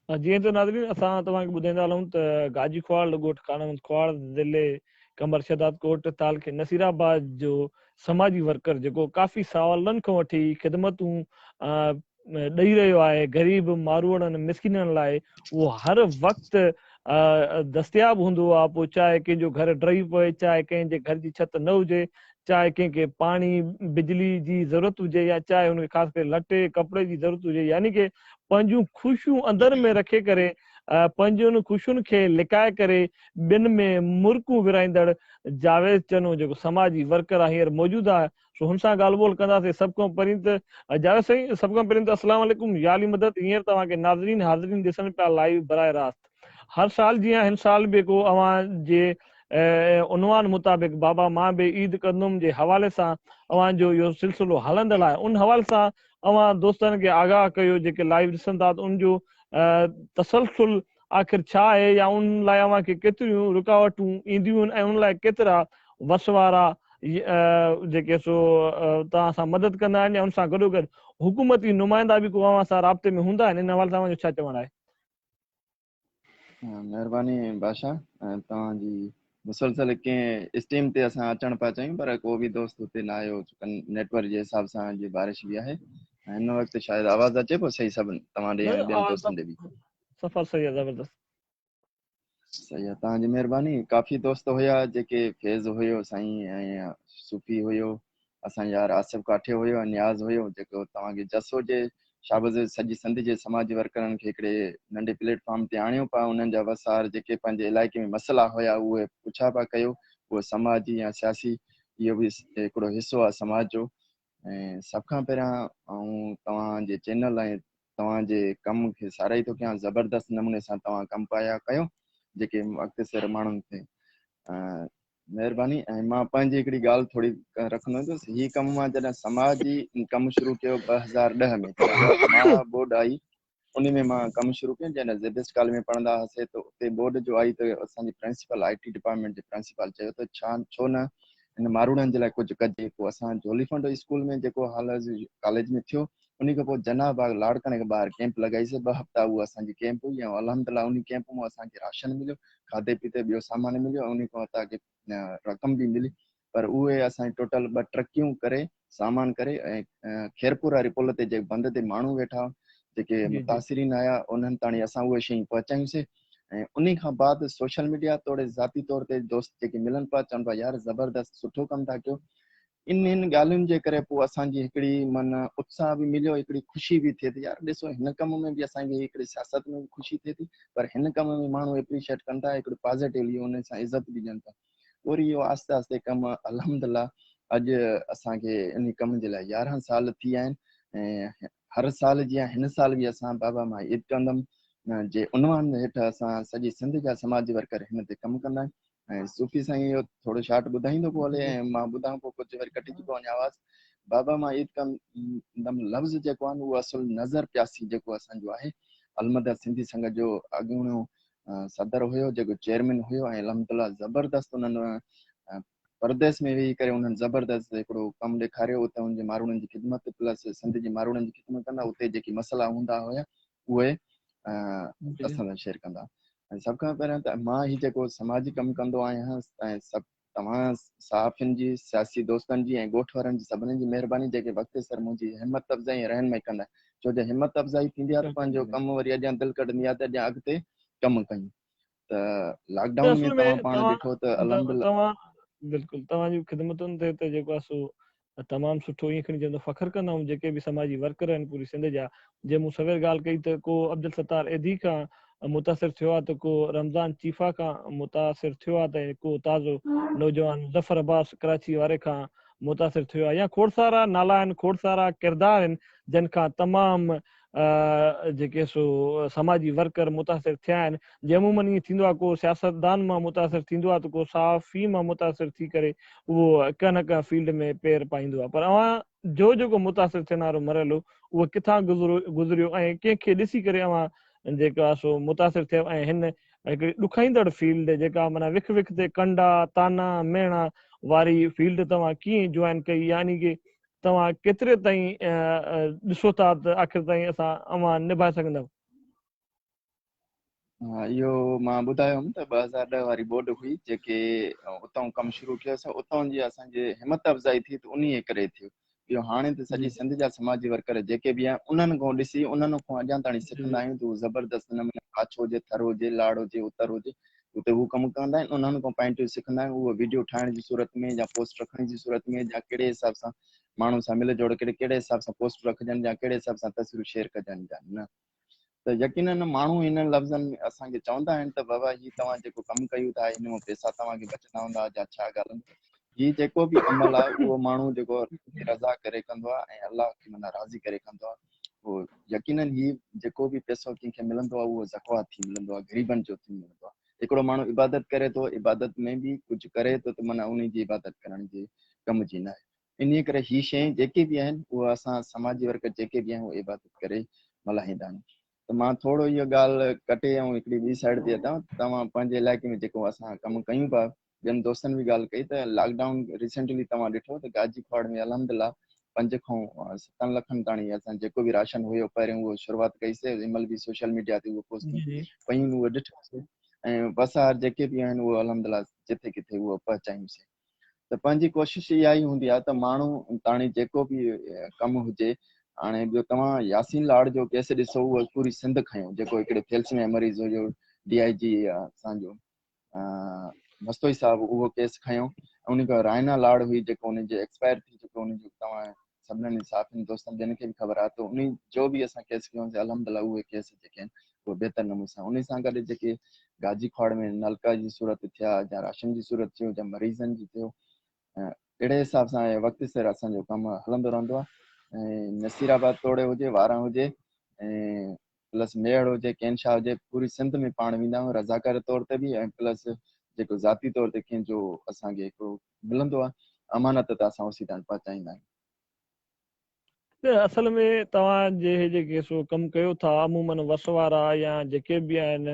جيئن ته ناظرين اسان توهان کي ٻڌائيندا هلون ته گاجي کواڙ ڳوٺ خانمند کواڙ ضلعي قمبر شهداد ڪوٽ تعلقي نصير آباد جو سماجي ورڪر جيڪو ڪافي سالن کان وٺي خدمتون ڏئي رهيو آهي غريب ماروئڙن مسڪينن لاء اهو هر وقت دستياب هوندو آهي پوء چاهي ڪنهن جو گهر ڊهي پوي چاهي ڪنهن جي گهر جي ڇت نه هجي چاهي ڪنهن کي پاڻي بجلي جي ضرورت هجي يا چاهي هن کي خاص ڪري لٽي ڪپڙي جي ضرورت هجي يعني ڪي پنهنجون خوشيون اندر ۾ رکي ڪري پنهنجن خوشين کي لڪائي ڪري ٻين ۾ مرڪون ورهائيندڙ جاويد چنو جيڪو سماجي ورڪر آهي هينئر موجود آهي سو هن سان ڳالهه ٻولهه ڪنداسين سڀ کان پهرين ته جاويد سائين سڀ کان پهرين ته اسلام عليڪم يا علي مدد هينئر توهان کي ناظرين حاضرين ڏسن پيا لائيو براه راست هر سال جيان هن سال به ڪو اوهان جي عنوان مطابق بابا مان به عيد ڪندم جي حوالي سان اوهان جو اهو سلسلو هلندڙ آهي ان حوالي سان اوهان دوستن کي آگاهه ڪيو جيڪي لائيو ڏسن ٿا ته ان جو تسلسل آخر ڇا آهي يا ان لاء اوهان کي ڪيتريون رڪاوٽون اينديون ۽ ان لاء ڪيترا وس وارا جيڪي سو توهان سان مدد ڪندا آهن يا ان سان گڏوگڏ حڪومتي نمائندا به ڪو اوهان سان رابطي ۾ هوندا آهن ان حوالي سان اوهان جو ڇا چوڻ آهي؟ مهرباني بادشاهه توهان جي مسلسل ڪنهن اسٽيم تي اسان اچڻ پيا چاهيون پر ڪو به دوست اتي نه آيو نيٽ ورڪ جي حساب سان جي بارش به آهي هن وقت شايد آواز اچي پيو صحيح سڀ توهان ڏي ۽ ٻين دوستن ڏي به سفر صحيح آ زبردست. صحيح آ تهان جي مهرباني ڪافي دوست هيا جيڪي فيض هيو سائين ۽ صوفي هيو اسان يار آصف ڪاٺي هيو ۽ نياز هيو جيڪو توهان کي جسو جي شابز سڄي سنڌ جي سماجي ورڪرن کي هڪڙي ننڍي پليٽ فارم تي آڻيو پا انهن جا وسار جيڪي پنهنجي علائقي ۾ مسئلا هيا اهي پڇا پا ڪيو اهو سماجي ۽ سياسي اهو به هڪڙو حصو آ سماج جو ۽ سڀ کان پهريان آئون توهان جي چينل ۽ توهان جي ڪم کي ساراهي ٿو ڪيان زبردست نموني سان توهان ڪم پايا ڪيو جيڪي وقت سر ماڻهن کي مهرباني ۽ مان پنهنجي هڪڙي ڳالهه ٿوري رکندو ته هي ڪم مان جڏهن سماجي ڪم شروع ڪيو ٻه هزار ڏهه ۾ مان بورڊ آئي انهي ۾ مان ڪم شروع ڪيم جڏهن زي بيسٽ ڪاليج ۾ پڙهندا هئاسي ته اتي ٻوڏ جو آئي ته اسان جي پرنسپال آئي ٽي ڊپارٽمينٽ جي پرنسپال چيو ته ڇا ڇو نه هن ماروئڙن جي لاء ڪجهه ڪجي پوء اسان جهولي فنڊ اسڪول ۾ جيڪو حال عرض ڪاليج ۾ ٿيو انهي کان پوء جناح باغ لاڙڪاڻي کان ٻاهر ڪيمپ لڳائيسي ٻه هفتا اهو اسان جي ڪيمپ هئي ۽ الحمد الله انهي ڪيمپ مون اسان کي راشن مليو کاڌي پيتي ٻيو سامان مليو ۽ انهي کان اتان جي رقم به ملي پر اهي اسان جي ٽوٽل ٻه ٽرڪيون ڪري سامان ڪري ۽ خيرپور واري پل تي جيڪي بند تي ماڻهو ويٺا جيڪي متاثرين آيا انهن تاڻي اسان اهي شيون پهچايون سي ۽ انهي کان بعد سوشل ميڊيا توڙي ذاتي طور تي دوست جيڪي ملن پيا چون پيا يار زبردست سٺو ڪم ٿا ڪيو انهن ڳالهين جي ڪري پوء اسان جي هڪڙي من اتساهه به مليو هڪڙي خوشي به ٿئي ٿي يار ڏسو هن ڪم ۾ به اسان کي هڪڙي سياست ۾ خوشي ٿئي ٿي پر هن ڪم ۾ ماڻهو اپريشيئيٽ ڪن ٿا هڪڙو پازيٽيولي انهي سان عزت به ڏين ٿا وري اهو آهستي آهستي ڪم الحمدالله اڄ اسان کي ان ڪم جي لاء يارهن سال ٿي ويا آهن ۽ هر سال جيان هن سال به اسان بابا مان عيد ڪندم جي عنوان هيٺ اسان سڄي سنڌ جا سماجي ورڪر هن تي ڪم ڪندا آهيون ۽ صوفي سائين اهو ٿورو شارٽ ٻڌائيندو پيو هلي ۽ مان ٻڌان پيو ڪجهه وري ڪٽجي پيو وڃي آواز بابا مان عيد ڪندم لفظ جيڪو آهي اهو اصل نظر پياسي جيڪو اسان جو آهي المدد سنڌي سنگت جو اڳوڻو صدر هيو جيڪو چيئرمين هيو ۽ الحمدالله زبردست انهن پرديس ۾ ويهي ڪري انهن زبردست هڪڙو ڪم ڏيکاريو اتي ان جي ماروئڙن جي خدمت پلس سنڌ جي ماروئڙن جي خدمت ڪندا اتي جيڪي مسئلا هوندا هيا اهي اسان سان شيئر ڪندا ۽ سڀ کان پهريان ته مان هي جيڪو سماجي ڪم ڪندو آهيان ۽ سڀ توهان صحافين جي، سياسي دوستن جي ۽ ڳوٺ وارن جي سڀني جي مهرباني جيڪي وقت سر منهنجي همت افزائي ۽ رهنمائي ڪندا ڇو جو همت افزائي ٿيندي آ ته پنهنجو ڪم وري اڳيان دل ڪڍندي آ ته اڳيان اڳتي ڪم ڪيون ته لاڪ ڊائون ۾ توهان پاڻ ڏٺو ته الحمدالله. بلڪل توهان جي خدمتن تي ته جيڪو آ سو تمام سٺو ائين کڻي چوندو فخر ڪندم جيڪي به سماجي ورڪر آهن پوري سنڌ جا جي مون سوير ڳالهه ڪئي ته ڪو عبدالستار ايڌي کان متاثر ٿيو آهي ته ڪو رمضان چيفا کان متاثر ٿيو آهي ته ڪو تازو نوجوان مظفر عباس ڪراچي واري کان متاثر ٿيو آهي يا کوڙ سارا نالا آهن کوڙ سارا ڪردار آهن جن کان تمام جيڪي سو سماجي ورڪر متاثر ٿيا آهن جي عمومن ائين ٿيندو آهي ڪو سياستدان مان متاثر ٿيندو آهي ته ڪو صحافي مان متاثر ٿي ڪري اهو ڪنهن نه ڪنهن فيلڊ ۾ پير پائيندو آهي پر اوهان جو جيڪو متاثر ٿيڻ وارو مرحلو اهو ڪٿان گذريو ۽ ڪنهن کي ڏسي ڪري اوهان جيڪا سو متاثر ٿيو ۽ هن هڪڙي ڏکائيندڙ فيلڊ جيڪا معنيٰ وک وک تي ڪنڊا تانا مهڻا واري فيلڊ توهان ڪيئن جوائن ڪئي يعني ڪي توهان ڪيتري تائين ڏسو ٿا ته آخر تائين اسان اوهان نڀائي سگهندؤ؟ اهو مان ٻڌايوم ته ٻه هزار ڏهه واري ٻوڏ هئي جيڪي اتان ڪم شروع ڪيو سو اتان جي اسان جي همت افزائي ٿي ته انهي ڪري ٿيو اهو هاڻي ته سڄي سنڌ جا سماجي ورڪر جيڪي به آهن انهن کان ڏسي انهن کان اڄان تائين سکندا آهيون ته زبردست نموني ڪاڇو هجي ٿر هجي لاڙ هجي اتر هجي اتي هو ڪم ڪندا آهن انهن کان پائنٽيون سکندا آهن اهو ويڊيو ٺاهڻ جي صورت ۾ يا پوسٽ رکڻ جي صورت ۾ يا ڪهڙي حساب سان ماڻهن سان مل جوڙ ڪري ڪهڙي حساب سان پوسٽ رکجن يا ڪهڙي حساب سان تصويرون شيئر ڪجن يا نه ته يقينا ماڻهو هنن لفظن ۾ اسان کي چوندا آهن ته بابا هي توهان جيڪو ڪم ڪيو ٿا هن مان پئسا توهان کي بچندا هوندا يا ڇا ڳالهه هي جيڪو به عمل آهي اهو ماڻهو جيڪو رضا ڪري ڪندو آهي ۽ الله کي منا راضي ڪري ڪندو آهي پوء يقينن هي جيڪو به پيسو ڪنهن کي ملندو آهي اهو زڪوات ٿي ملندو آهي غريبن جو ٿي ملندو آهي هڪڙو ماڻهو عبادت ڪري ٿو عبادت ۾ به ڪجهه ڪري ٿو ته معنيٰ انهي جي عبادت ڪرڻ جي ڪم جي ناهي انهي ڪري هي شين جيڪي به آهن اهو اسان سماجي ورڪر جيڪي به آهيون اهو عبادت ڪري ملهائيندا آهيون ته مان ٿورو هيء ڳالهه ڪٽي ۽ هڪڙي ٻي سائيڊ تي اچان توهان پنهنجي علائقي ۾ جيڪو اسان ڪم ڪيون پيا ٻين دوستن به ڳالهه ڪئي ته لاڪ ڊائون ريسينٽلي توهان ڏٺو ته گاجي ڪواڙ ۾ الحمدالله پنج کان ستن لکن تاڻي اسان جيڪو به راشن هيو پهريون اهو شروعات ڪئي سي جنهن مهل به سوشل ميڊيا تي اهو پوسٽون پيون اهو ڏٺو سي ۽ وسار جيڪي به آهن اهو الحمدالله جٿي ڪٿي اهو پهچايون سي ته پنهنجي ڪوشش اها ئي هوندي آهي ته ماڻهو تاڻي جيڪو به ڪم هجي هاڻي ٻيو توهان ياسين لاڙ جو ڪيس ڏسو اهو پوري سنڌ کنيو جيڪو هڪڙي ٿيلسميا مريض هيو ڊي آء جي اسان جو مستوئي صاحب اهو ڪيس کنيو ۽ ان کان رائنا لاڙ هئي جيڪو ان جي ايڪسپائر ٿي چڪو ان جو توهان سڀنن صحافين دوستن ٻين کي به خبر آهي ته ان جو به اسان ڪيس ڪيون سي الحمدلله اهي ڪيس جيڪي آهن اهي بهتر نموني سان ان سان گڏ جيڪي گاجي کواڙ ۾ نلڪا جي صورت ٿيا يا راشن جي صورت ٿيو يا مريضن جي ٿيو اهڙي حساب سان وقت سر اسان جو ڪم هلندو رهندو آهي ۽ نصير آباد توڙي هجي واران هجي ۽ پلس ميهڙ هجي ڪينشا هجي پوري سنڌ ۾ پاڻ ويندا آهيون رضاڪاري طور تي به ۽ پلس جيڪو ذاتي طور تي ڪنهن جو اسان کي هڪڙو ملندو آهي امانت ته اسان اوسي تائين پهچائيندا آهيون. اصل ۾ توهان جي هي جيڪي سو ڪم ڪيو ٿا عمومن وس وارا يا جيڪي به آهن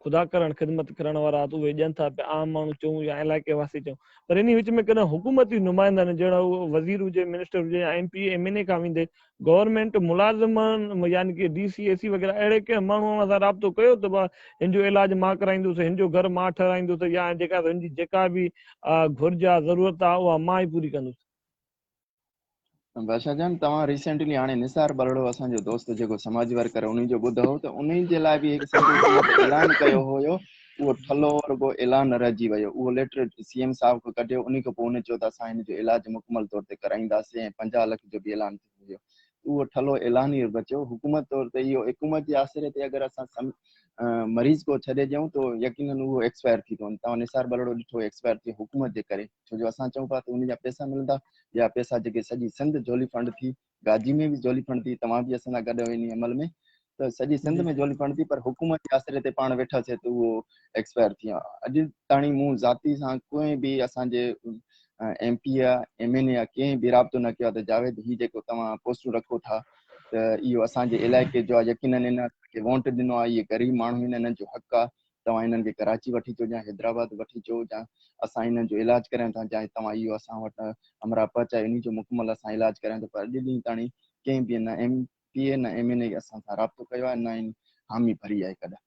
خدا ڪرڻ خدمت ڪرڻ وارا ته اهي ڏين ٿا پيا عام ماڻهو چون يا علائقي واسي چون پر انهي وچ ۾ ڪڏهن حڪومتي نمائندن جهڙا اهو وزير هجي منسٽر هجي يا M P M N A کان ويندي گورنمينٽ ملازمن يعني ڪي ڊي سي اي سي وغيره اهڙي ڪنهن ماڻهو سان رابطو ڪيو ته با هن جو علاج مان ڪرائيندس هن جو گهر مان ٺهرائيندس يا جيڪا هن جي جيڪا به گهرج آ ضرورت آ اها مان ئي پوري ڪندس بادشاھ جان توهان ريسينٽلي هاڻي نثار ٻرڙو اسان جو دوست جيڪو سماجي ورڪر انهي جو ٻڌو ته انهي جي لاء به هڪ سنڌو حڪومت اعلان ڪيو هيو اهو ٺلهو رڳو اعلان رهجي ويو اهو ليٽر سي ايم صاحب کي ڪڍيو انهي کان پوء هن چيو ته اسان هن جو علاج مڪمل طور تي ڪرائينداسين ۽ پنجاهه لک جو به اعلان ٿيو هيو اهو ٺلهو اعلان ئي بچيو. حڪومت طور تي اهو اقومت جي آسري تي اگر اسان مريض ڪو ڇڏي ڏيون ته يقينن اهو ايڪسپائر ٿي پوندو. توهان نثار ٻرڙو ڏٺو ايڪسپائر ٿيو حڪومت جي ڪري ڇو جو اسان چئون پيا ته ان جا پيسا ملندا ٻيا پيسا جيڪي سڄي سنڌ جهولي ڦنڊ ٿي گاجي ۾ به جهولي ڦنڊ ٿي توهان به اسان سان گڏ آهيو انهي عمل ۾ ته سڄي سنڌ ۾ جهولي پڻ ٿي پر حڪومت جي آسري تي پاڻ ويٺا سي ته اهو ايڪسپائر ٿي ويا اڄ تاڻي مون ذاتي سان ڪنهن به اسان جي ايم پي آ ايم اين اي آ ڪنهن به رابطو نه ڪيو ته جاويد هي جيڪو توهان پوسٽون رکو ٿا ته اهو اسان جي علائقي جو يقينن ان کي وونٽ ڏنو آ اهي غريب ماڻهو آهن انهن جو حق آ توهان انهن کي ڪراچي وٺي اچو جا حيدرآباد وٺي اچو جا اسان انهن جو علاج ڪريون ٿا جا توهان اهو اسان وٽ امراء پهچايو انهي جو مڪمل اسان علاج ڪريون ٿا پر اڄ ڏينهن تاڻي ڪنهن به ان ايم پي اي نه ايم اين اي اسان سان رابطو ڪيو آهي نه ان حامي ڀري آهي ڪڏهن.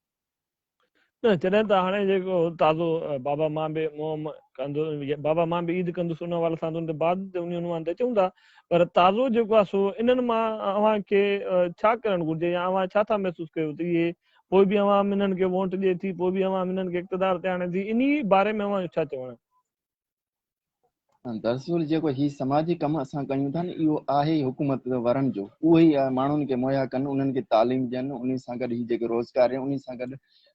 نه جڏهن ته هاڻي جيڪو تازو بابا مان به مهم ڪندو بابا مان به عيد ڪندس ان حوالي سان ان تي بعد تي انهي عنوان تي اچون ٿا پر تازو جيڪو آهي سو انهن مان اوهان کي ڇا ڪرڻ گهرجي يا اوهان ڇا ٿا محسوس ڪيو ته اهي پوء به عوام انهن کي وونٽ ڏئي ٿي پوء به عوام انهن کي اقتدار تي آڻي ٿي انهي باري ۾ اوهان جو ڇا چوڻ آهي. دراصل جيڪو هي سماجي ڪم اسان ڪيون ٿا نه اهو آهي حڪومت ورن جو اهي ئي ماڻهن کي مهيا ڪن انهن کي تعليم ڏين ان سان گڏ هي جيڪي روزگار ڏين ان سان گڏ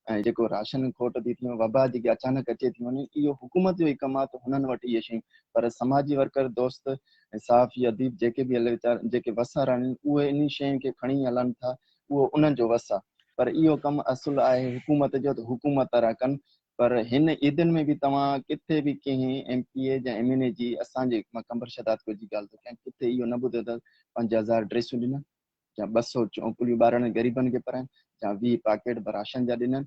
۽ جيڪو راشن کوٽ ٿي ٿي وبا جيڪي اچانڪ اچي ٿي وڃي اهو حڪومت جو ئي ڪم آهي ته هنن وٽ اهي شيون پر سماجي ورڪر دوست ۽ صحافي اديب جيڪي به هلي ويچار جيڪي وسار آهن اهي انهي شين کي کڻي هلن ٿا اهو انهن جو وس آهي پر اهو ڪم اصل آهي حڪومت جو ته حڪومت را ڪن پر هن عيدن ۾ به توهان ڪٿي به ڪنهن ايم پي اي يا ايم اين اي جي اسان جي قمبر شهداد ڪوچ جي ڳالهه ٿو ڪيان ڪٿي اهو نه ٻڌو ته پنج هزار ڊريسون ڏنن يا ٻه سؤ چونپليون ٻارڙن غريبن کي پرايون يا ويهه پاڪيٽ به راشن جا ڏنن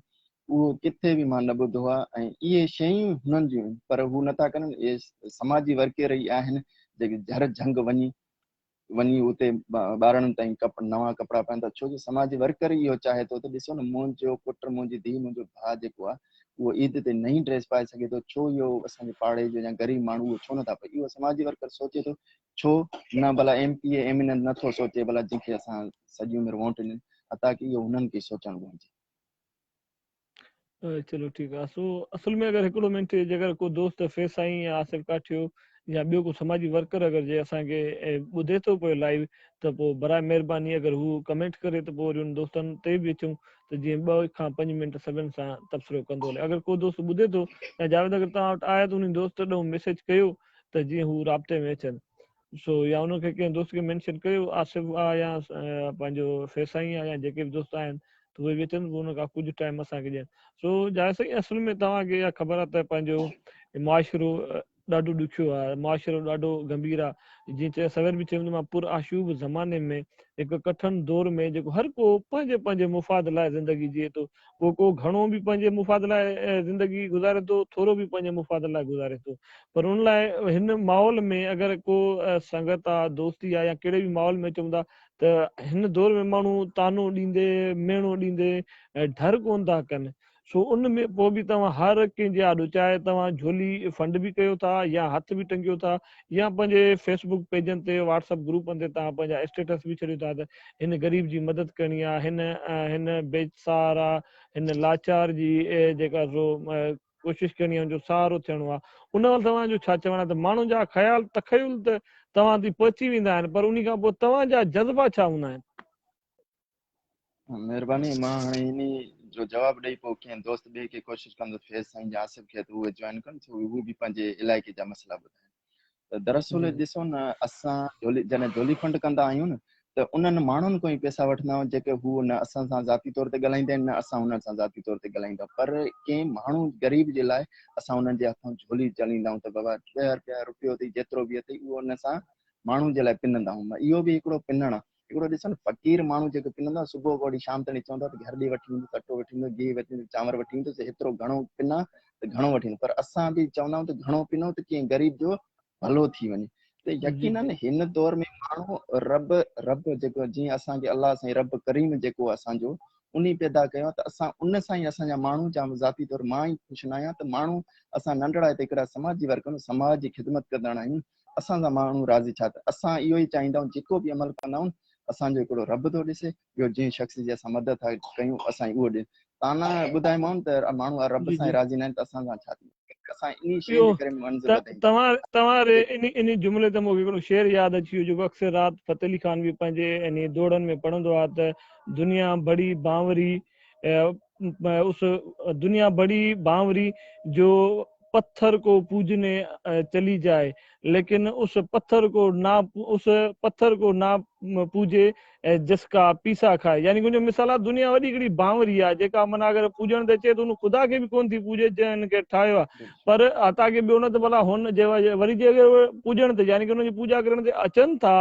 اهو ڪٿي به مان نه ٻڌو آهي ۽ اهي شيون هنن جون پر هو نه ٿا ڪن اهي سماجي ورڪير ئي آهن جيڪي جھر جھنگ وڃي وڃي اتي ٻارڙن تائين نوان ڪپڙا پائيندا ڇو جو سماجي ورڪر ئي اهو چاهي ٿو ته ڏسو نه منهنجو پٽ منهنجي ڌي منهنجو ڀاء جيڪو آهي اهو عيد تي نئين ڊريس پائي سگهي ٿو ڇو اهو اسان جي پاڙي جو يا غريب ماڻهو اهو ڇو نٿا پائي اهو سماجي ورڪر سوچي ٿو ڇو نه ڀلا M P A M N A نٿو سوچي ڀلا جنهن کي اسان سڄي عمر وونٽ ڏني اتان ڪي اهو هنن کي سوچڻ گهرجي. چلو ٺيڪ آ سو اصل ۾ اگر هڪڙو منٽ جيڪر ڪو دوست فيض سائين يا آصف ڪاٺيو يا ٻيو ڪو سماجي ورڪر اگر جي اسان کي ٻڌي ٿو پيو لائيو ته پوء برائي مهرباني اگر هو ڪمينٽ ڪري ته پوء وري ان دوستن تي به اچون ته جيئن ٻه کان پنج منٽ سڀن سان تبصرو ڪندو هلي اگر ڪو دوست ٻڌي ٿو يا جاويد اگر توهان وٽ آهي ته ان دوست ڏانهن ميسيج ڪيو ته جيئن هو رابطي ۾ اچن سو يا ان کي ڪنهن دوست کي مينشن ڪريو آصف آ يا پنهنجو فيسائين آ يا جيڪي به دوست آهن ته اهي به اچن ان کان ڪجهه ٽائيم اسان کي ڏين سو جاويد سائين اصل ۾ توهان کي اها خبر آ ته پنهنجو معاشرو ڏاڍو ڏکيو آ معاشرو ڏاڍو گمڀير آ جيئن چيو سوير به چيم ته مان پر آشوب زماني ۾ هڪ ڪٺن دور ۾ جيڪو هر ڪو پنهنجي پنهنجي مفاد لاء زندگي جيئي ٿو پوء ڪو گهڻو به پنهنجي مفاد لاء زندگي گذاري ٿو، ٿورو به پنهنجي مفاد لاء گذاري ٿو. پر ان لاء هن ماحول ۾ اگر ڪو سنگت آ، دوستي آ يا ڪهڙي به ماحول ۾ اچون ٿا ته هن دور ۾ ماڻهو طعنو ڏيندي، ميڻو ڏيندي ڍر ڪونه ٿا ڪن. سو ان ۾ پوء به توهان هر ڪنهن جي آڏو چاهي توهان جهولي فنڊ به ڪيو ٿا يا هٿ به ٽنگيو ٿا يا پنهنجي فيسبوڪ پيجن تي واٽس اپ گروپن تي توهان پنهنجا اسٽيٽس به ڇڏيو ٿا ته هن غريب جي مدد ڪرڻي آ هن هن بيسارا هن لاچار جي جيڪا سو ڪوشش ڪرڻي آ هن جو سهارو ٿيڻو آ ان وقت توهان جو ڇا چوڻ آ ته ماڻهن جا خيال تخيل ته توهان تي پهچي ويندا آهن پر انهي کان پوء توهان جا جذبا ڇا هوندا آهن. مهرباني مان هاڻي انهي جو جواب ڏئي پوء ڪنهن دوست ٻئي کي ڪوشش ڪندس فيض سائين جي آصف کي ته اهي جوائن ڪن ڇو جو هو به پنهنجي علائقي جا مسئلا ٻڌائين. ته دراصل ڏسو نه اسان جڏهن جھولي فنڊ ڪندا آهيون نه ته انهن ماڻهن کان ئي پئسا وٺندا آهيون جيڪي هو نه اسان سان ذاتي طور تي ڳالهائيندا آهن نه اسان انهن سان ذاتي طور تي ڳالهائيندا آهيون پر ڪنهن ماڻهو غريب جي لاء اسان انهن جي هٿان جھولي چليندا آهيون ته بابا ڏهه رپيا رپيو اٿئي جيترو به اٿئي اهو ان سان ماڻهو جي لاء پنندا آهيون اهو به هڪڙو پنڻ آهي هڪڙو ڏسن فقير ماڻهو جيڪو پنندا صبح کان وٺي شام تائين چوندا ته گهر ڏي وٺي ويندس اٽو وٺي ويندس گيهه وٺي ويندس چانور وٺي ويندس هيترو گهڻو پنا ته گهڻو وٺي ويندس پر اسان به چوندا آهيون ته گهڻو پنو ته ڪنهن غريب جو ڀلو ٿي وڃي ته يقينا هن دور ۾ ماڻهو رب رب جيڪو جيئن اسان کي الله سائين رب ڪريم جيڪو اسان جو انهي پيدا ڪيو آهي ته اسان ان سان ئي اسان جا ماڻهو جا ذاتي طور مان ئي خوش نه آهيان ته ماڻهو اسان ننڍڙا هتي هڪڙا سماجي ورڪر سماج جي خدمت ڪندڙ آهيون اسان سان ماڻهو راضي ڇا ته اسان اهو ئي چاهيندائون جيڪو به عمل ڪندائون اسان جو هڪڙو رب ٿو ڏسي ٻيو جنهن شخص جي اسان مدد ٿا ڪيون اسان اهو ڏي تانا ٻڌائيمائون ته ماڻهو آ رب سان ئي راضي ناهن ته اسان سان ڇا ٿيندو اسان انهي شيء جي ڪري منزل وڌائينداسين توهان توهان ري انهي انهي جملي تي مونکي هڪڙو شعر ياد اچي ويو جيڪو اڪثر رات فتح علي خان به پنهنجي انهي دوڙن ۾ پڙهندو آ ته دنيا بڙي بانوري اس دنيا بڙي بانوري جو پٿر ڪو پوجني چلي جائي ليڪن اس پٿر ڪو نا اس پٿر ڪو نا پوجي جسڪا پيسا کائي يعني ڪنهن جو مثال آ دنيا وڏي هڪڙي بانوري آ جيڪا معنيٰ اگر پوجڻ ته اچي ته ان خدا کي به ڪون ٿي پوجي جنهن ان کي ٺاهيو آ پر عطا کي ٻيو نه ته ڀلا هن جي وري جي اگر پوجڻ تي يعني ڪي ان جي پوجا ڪرڻ تي اچن ٿا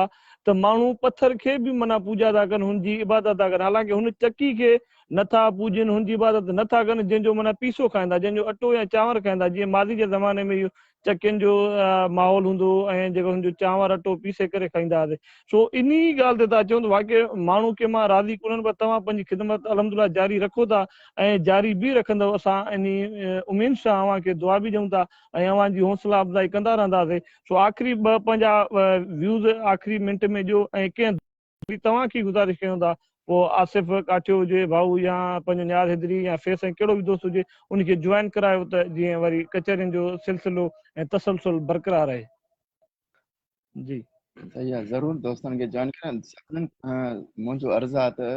ته ماڻهو پٿر کي به معنيٰ پوجا ٿا ڪن هن جي عبادت ٿا ڪن حالانڪه هن چڪي کي نه ٿا پوڄين، هن جي عبادت نه ٿا ڪن، جنهن جو معنيٰ پيسو کائيندا، جنهن جو اٽو يا چانور کائيندا، جيئن ماضي جي زماني ۾ اهو چڪين جو ماحول هوندو هو ۽ جيڪو هن جو چانور اٽو پيسي ڪري کائيندا هئاسين. سو انهي ڳالهه تي ٿا چون ته واقعي ماڻهو ڪنهن مان راضي ڪونهن پر توهان پنهنجي خدمت الحمدلله جاري رکو ٿا ۽ جاري به رکندؤ اسان انهي اميد سان اوهان کي دعا به ڏيون ٿا ۽ اوهان جي حوصلا افزائي ڪندا رهنداسين سو آخري ٻه پنهنجا ويوز آخري منٽ ۾ ڏيو ۽ ڪنهن جي توهان کي گذارش ڪيون ٿا پوء آصف ڪاٺيو هجي ڀائو يا پنهنجو نياز حيدري يا فيس ۽ ڪهڙو به دوست هجي ان کي جوائن ڪرايو ته جيئن وري ڪچهرين جو سلسلو ۽ تسلسل برقرار رهي جي. صحيح آ ضرور دوستن کي جوائن ڪرايو سڀنن کان منهنجو عرض آ ته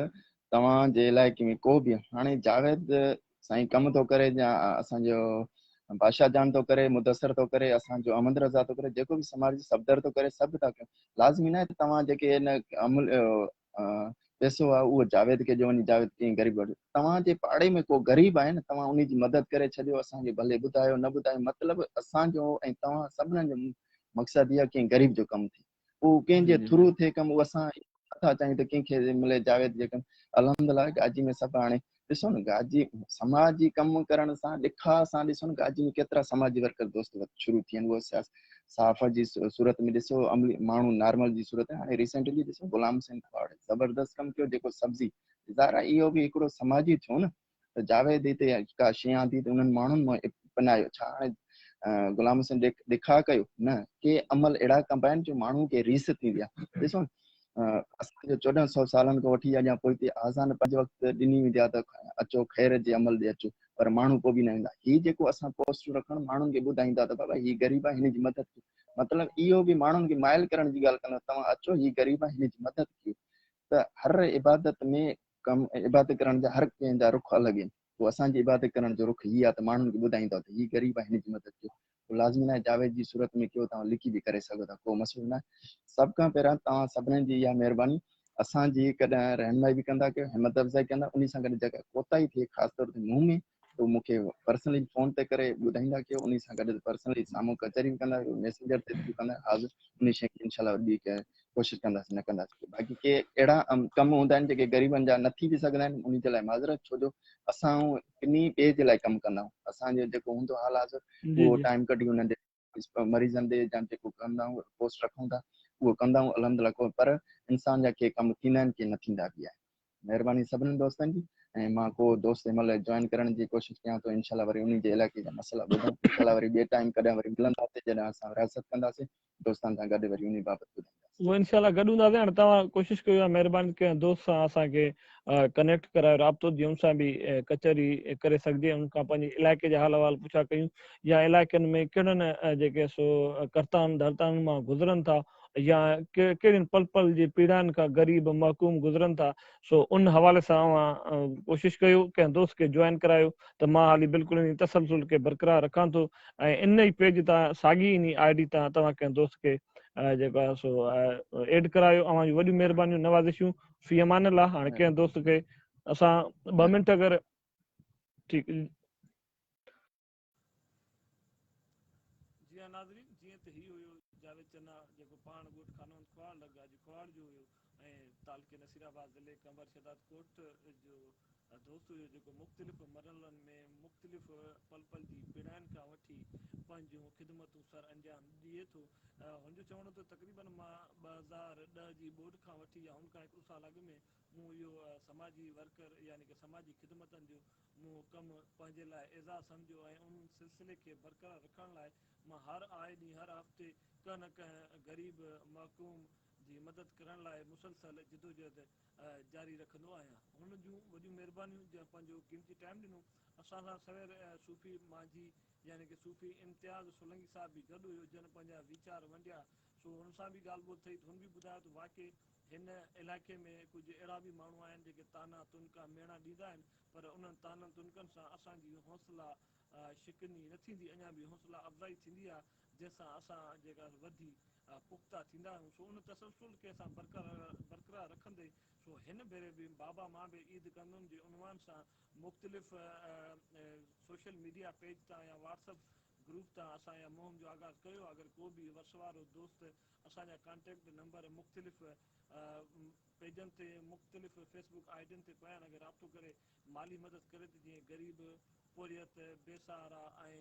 توهان جي علائقي ۾ ڪو به هاڻي جاويد سائين ڪم ٿو ڪري جا اسان جو بادشاهه جان ٿو ڪري مدثر ٿو ڪري اسان جو احمد رضا ٿو ڪري جيڪو به سماج جي صفدر ٿو ڪري سڀ ٿا ڪيون لازمي نه ته توهان جيڪي ان عمل پيسو آ او جاويد کي جو وڃي جاويد ڪي غريب وٽ توهان جي پاڙي ۾ ڪو غريب آهي نه توهان انهي جي مدد ڪري ڇڏيو اسان کي ڀلي ٻڌايو نه ٻڌايو مطلب اسان جو ۽ توهان سڀنن جو مقصد اهي ڪي غريب جو ڪم ٿي اهو ڪنهن جي ٿرو ٿئي ڪم اهو اسان نٿا چاهيون ته ڪنهن کي ملي جاويد جي ڪم الحمدلله گاجي ۾ سڀ هاڻي ڏسو نه گاجي سماجي ڪم ڪرڻ سان ڏکاء سان ڏسو نه گاجي ۾ ڪيترا سماجي ورڪر دوست شروع ٿي ويا آهن اهو صحافت جي صورت ۾ ڏسو عملي ماڻهو نارمل جي صورت ۾ هاڻي ريسينٽلي ڏسو غلام حسين کواڙ زبردست ڪم ڪيو جيڪو سبزي زارا اهو به هڪڙو سماجي ٿيو نه ته جاويد هتي ڪا شيء آندي ته انهن ماڻهن مان اپنايو. ڇا هاڻي غلام حسين ڏکاء ڪيو؟ نه، ڪي عمل اهڙا ڪبا آهن جو ماڻهوء کي ريس ٿيندي آهي. ڏسو نه، اسان جو چوڏهن سؤ سالن کان وٺي اڄان پوئتي آذان پنج وقت ڏني ويندي آهي ته اچو خير جي عمل ڏي اچو، پر ماڻهو ڪو به نه ويندا. هي جيڪو اسان پوسٽون رکڻ ماڻهن کي ٻڌائين ٿا ته بابا هي غريب آهي هن جي مدد ڪيو، مطلب اهو به ماڻهن کي مائل ڪرڻ جي ڳالهه ڪندا، توهان اچو هي غريب آهي هن جي مدد ڪيو ته هر عبادت ۾ ڪم ۽ عبادت ڪرڻ جا هر ڪنهن جا رخ الڳ آهن پوء اسان جي عبادت ڪرڻ جو رخ هي آهي ته ماڻهن کي ٻڌائيندؤ ته هي غريب آهي هن جي مدد ڪيو اهو لازمي ناهي جاويد جي صورت ۾ ڪيو توهان لکي به ڪري سگهو ٿا ڪو مسئلو ناهي سڀ کان پهريان توهان سڀني جي اها مهرباني اسان جي ڪڏهن رهنمائي به ڪندا ڪيو همت افزائي ڪندا انهي سان گڏ جيڪا ڪوتاهي ٿئي خاص طور تي مون ۾ تو مون کي پرسنلي فون تي ڪري ٻڌائيندا ڪيو انهي سان گڏ پرسنلي سامهون ڪچهري به ڪندا ڪيو ميسينجر تي به ڪندا حاضر انهي شين کي انشاءالله ٻي ڪنهن ڪوشش ڪنداسين نه ڪنداسين ڪي باقي ڪي اهڙا ڪم هوندا آهن جيڪي غريبن جا نه ٿي به سگهندا آهن انهي جي لاء معذرت ڇو جو اسان ڪنهن ٻئي جي لاء ڪم ڪندا آهيون اسان جو جيڪو هوندو حال حاضر اهو ٽائيم ڪڍي انهن جي مريضن ڏي جا جيڪو ڪندا آهيون رپورٽس رکون ٿا اهو ڪندا آهيون الحمدلله ڪو پر انسان جا ڪي ڪم ٿيندا آهن ڪي نه ٿيندا به آهن مهرباني سڀني دوستن جي ۽ مان ڪو دوست جنهن مهل جوائن ڪرڻ جي ڪوشش ڪيان ٿو انشاء الله وري انهي جي علائقي جا مسئلا ٻڌون انشاء الله وري ٻي ٽائيم ڪڏهن وري ملنداسين جڏهن اسان رياست ڪنداسين دوستن سان گڏ وري انهي بابت ٻڌون اهو انشاء الله گڏ هونداسين هاڻي توهان ڪوشش ڪيو يا مهرباني ڪنهن دوست سان اسان کي ڪنيڪٽ ڪرايو رابطو جي ان سان به ڪچهري ڪري سگهجي ان کان پنهنجي علائقي جا حال احوال پڇا ڪيون يا علائقن ۾ ڪهڙن جيڪي سو ڪرتان ڌرتان مان گذرن ٿا يا ڪهڙين پل پل جي پيڙائن کان غريب محڪوم گذرن ٿا سو ان حوالي سان اوهان ڪوشش ڪيو ڪنهن دوست کي جوائن ڪرايو ته مان هالي بلڪل انهي تسلسل کي برقرار رکان ٿو ۽ ان ئي پيج تان ساڳي انهي آء ڊي تان توهان ڪنهن دوست کي جيڪو آهي سو ايڊ ڪرايو اوهان جون وڏيون مهربانيون نوازشون في امان الله هاڻي ڪنهن دوست کي اسان ٻه منٽ اگر ٺيڪ جي ها ناظرين جيئن ته هي هيو جاويد چنا جيڪو پاڻ ڳوٺ خانوند ڪهاڙ لڳ اڄ ڪهاڙ جو هيو ۽ تعلقي نصير آباد ضلعي قمبر شهداد ڪوٽ جو دوست هيو جيڪو مختلف مرحلن ۾ مختلف پل پل جي پيڙاين کان وٺي پنهنجون خدمتون سر انجام ڏئي ٿو هن جو چوڻ هو ته تقريبن مان 2010 جي ٻوڏ کان وٺي يا ان کان هڪ ڏو سال اڳ ۾ مون اهو سماجي ورڪر يعني ڪه سماجي خدمتن جو مون اهو ڪم پنهنجي لاء اعزاز سمجهيو ۽ ان سلسلي کي برقرار رکڻ لاء مان هر آئي ڏينهن هر هفتي ڪنهن نه ڪنهن غريب محڪوم جي مدد ڪرڻ لاء مسلسل جدوجهد جاري رکندو آهيان. هن جون وڏيون مهربانيون جنهن پنهنجو قيمتي ٽائيم ڏنو. اسان سان سوير صوفي مانجهي يعني ڪه صوفي امتياز سولنگي صاحب به گڏ هيو جنهن پنهنجا ويچار ونڊيا سو هن سان به ڳالهه ٻولهه ٿئي ته هن به ٻڌايو ته واقعي هن علائقي ۾ ڪجهه اهڙا به ماڻهو آهن جيڪي طعنا تنڪا ميڻا ڏيندا آهن پر انهن طعنن تنڪن سان اسان جي حوصلا شڪني نه ٿيندي اڃا به حوصلا افزائي ٿيندي آهي جنهن سان اسان جيڪا وڌي پختا ٿيندا آهيون سو ان تسلسل کي اسان برقرار رکندي سو هن ڀيري به بابا مان به عيد ڪندم جي عنوان سان مختلف سوشل ميڊيا پيج تان يا واٽس اپ گروپ تان اسان اها مهم جو آغاز ڪيو اگر ڪو به وسوارو دوست اسان جا ڪانٽيڪٽ نمبر مختلف پيجن تي مختلف فيس بوڪ آئي ڊين تي پيا آهن اگر رابطو ڪري مالي مدد ڪري ته جيئن غريب پورهيت بي سهارا ۽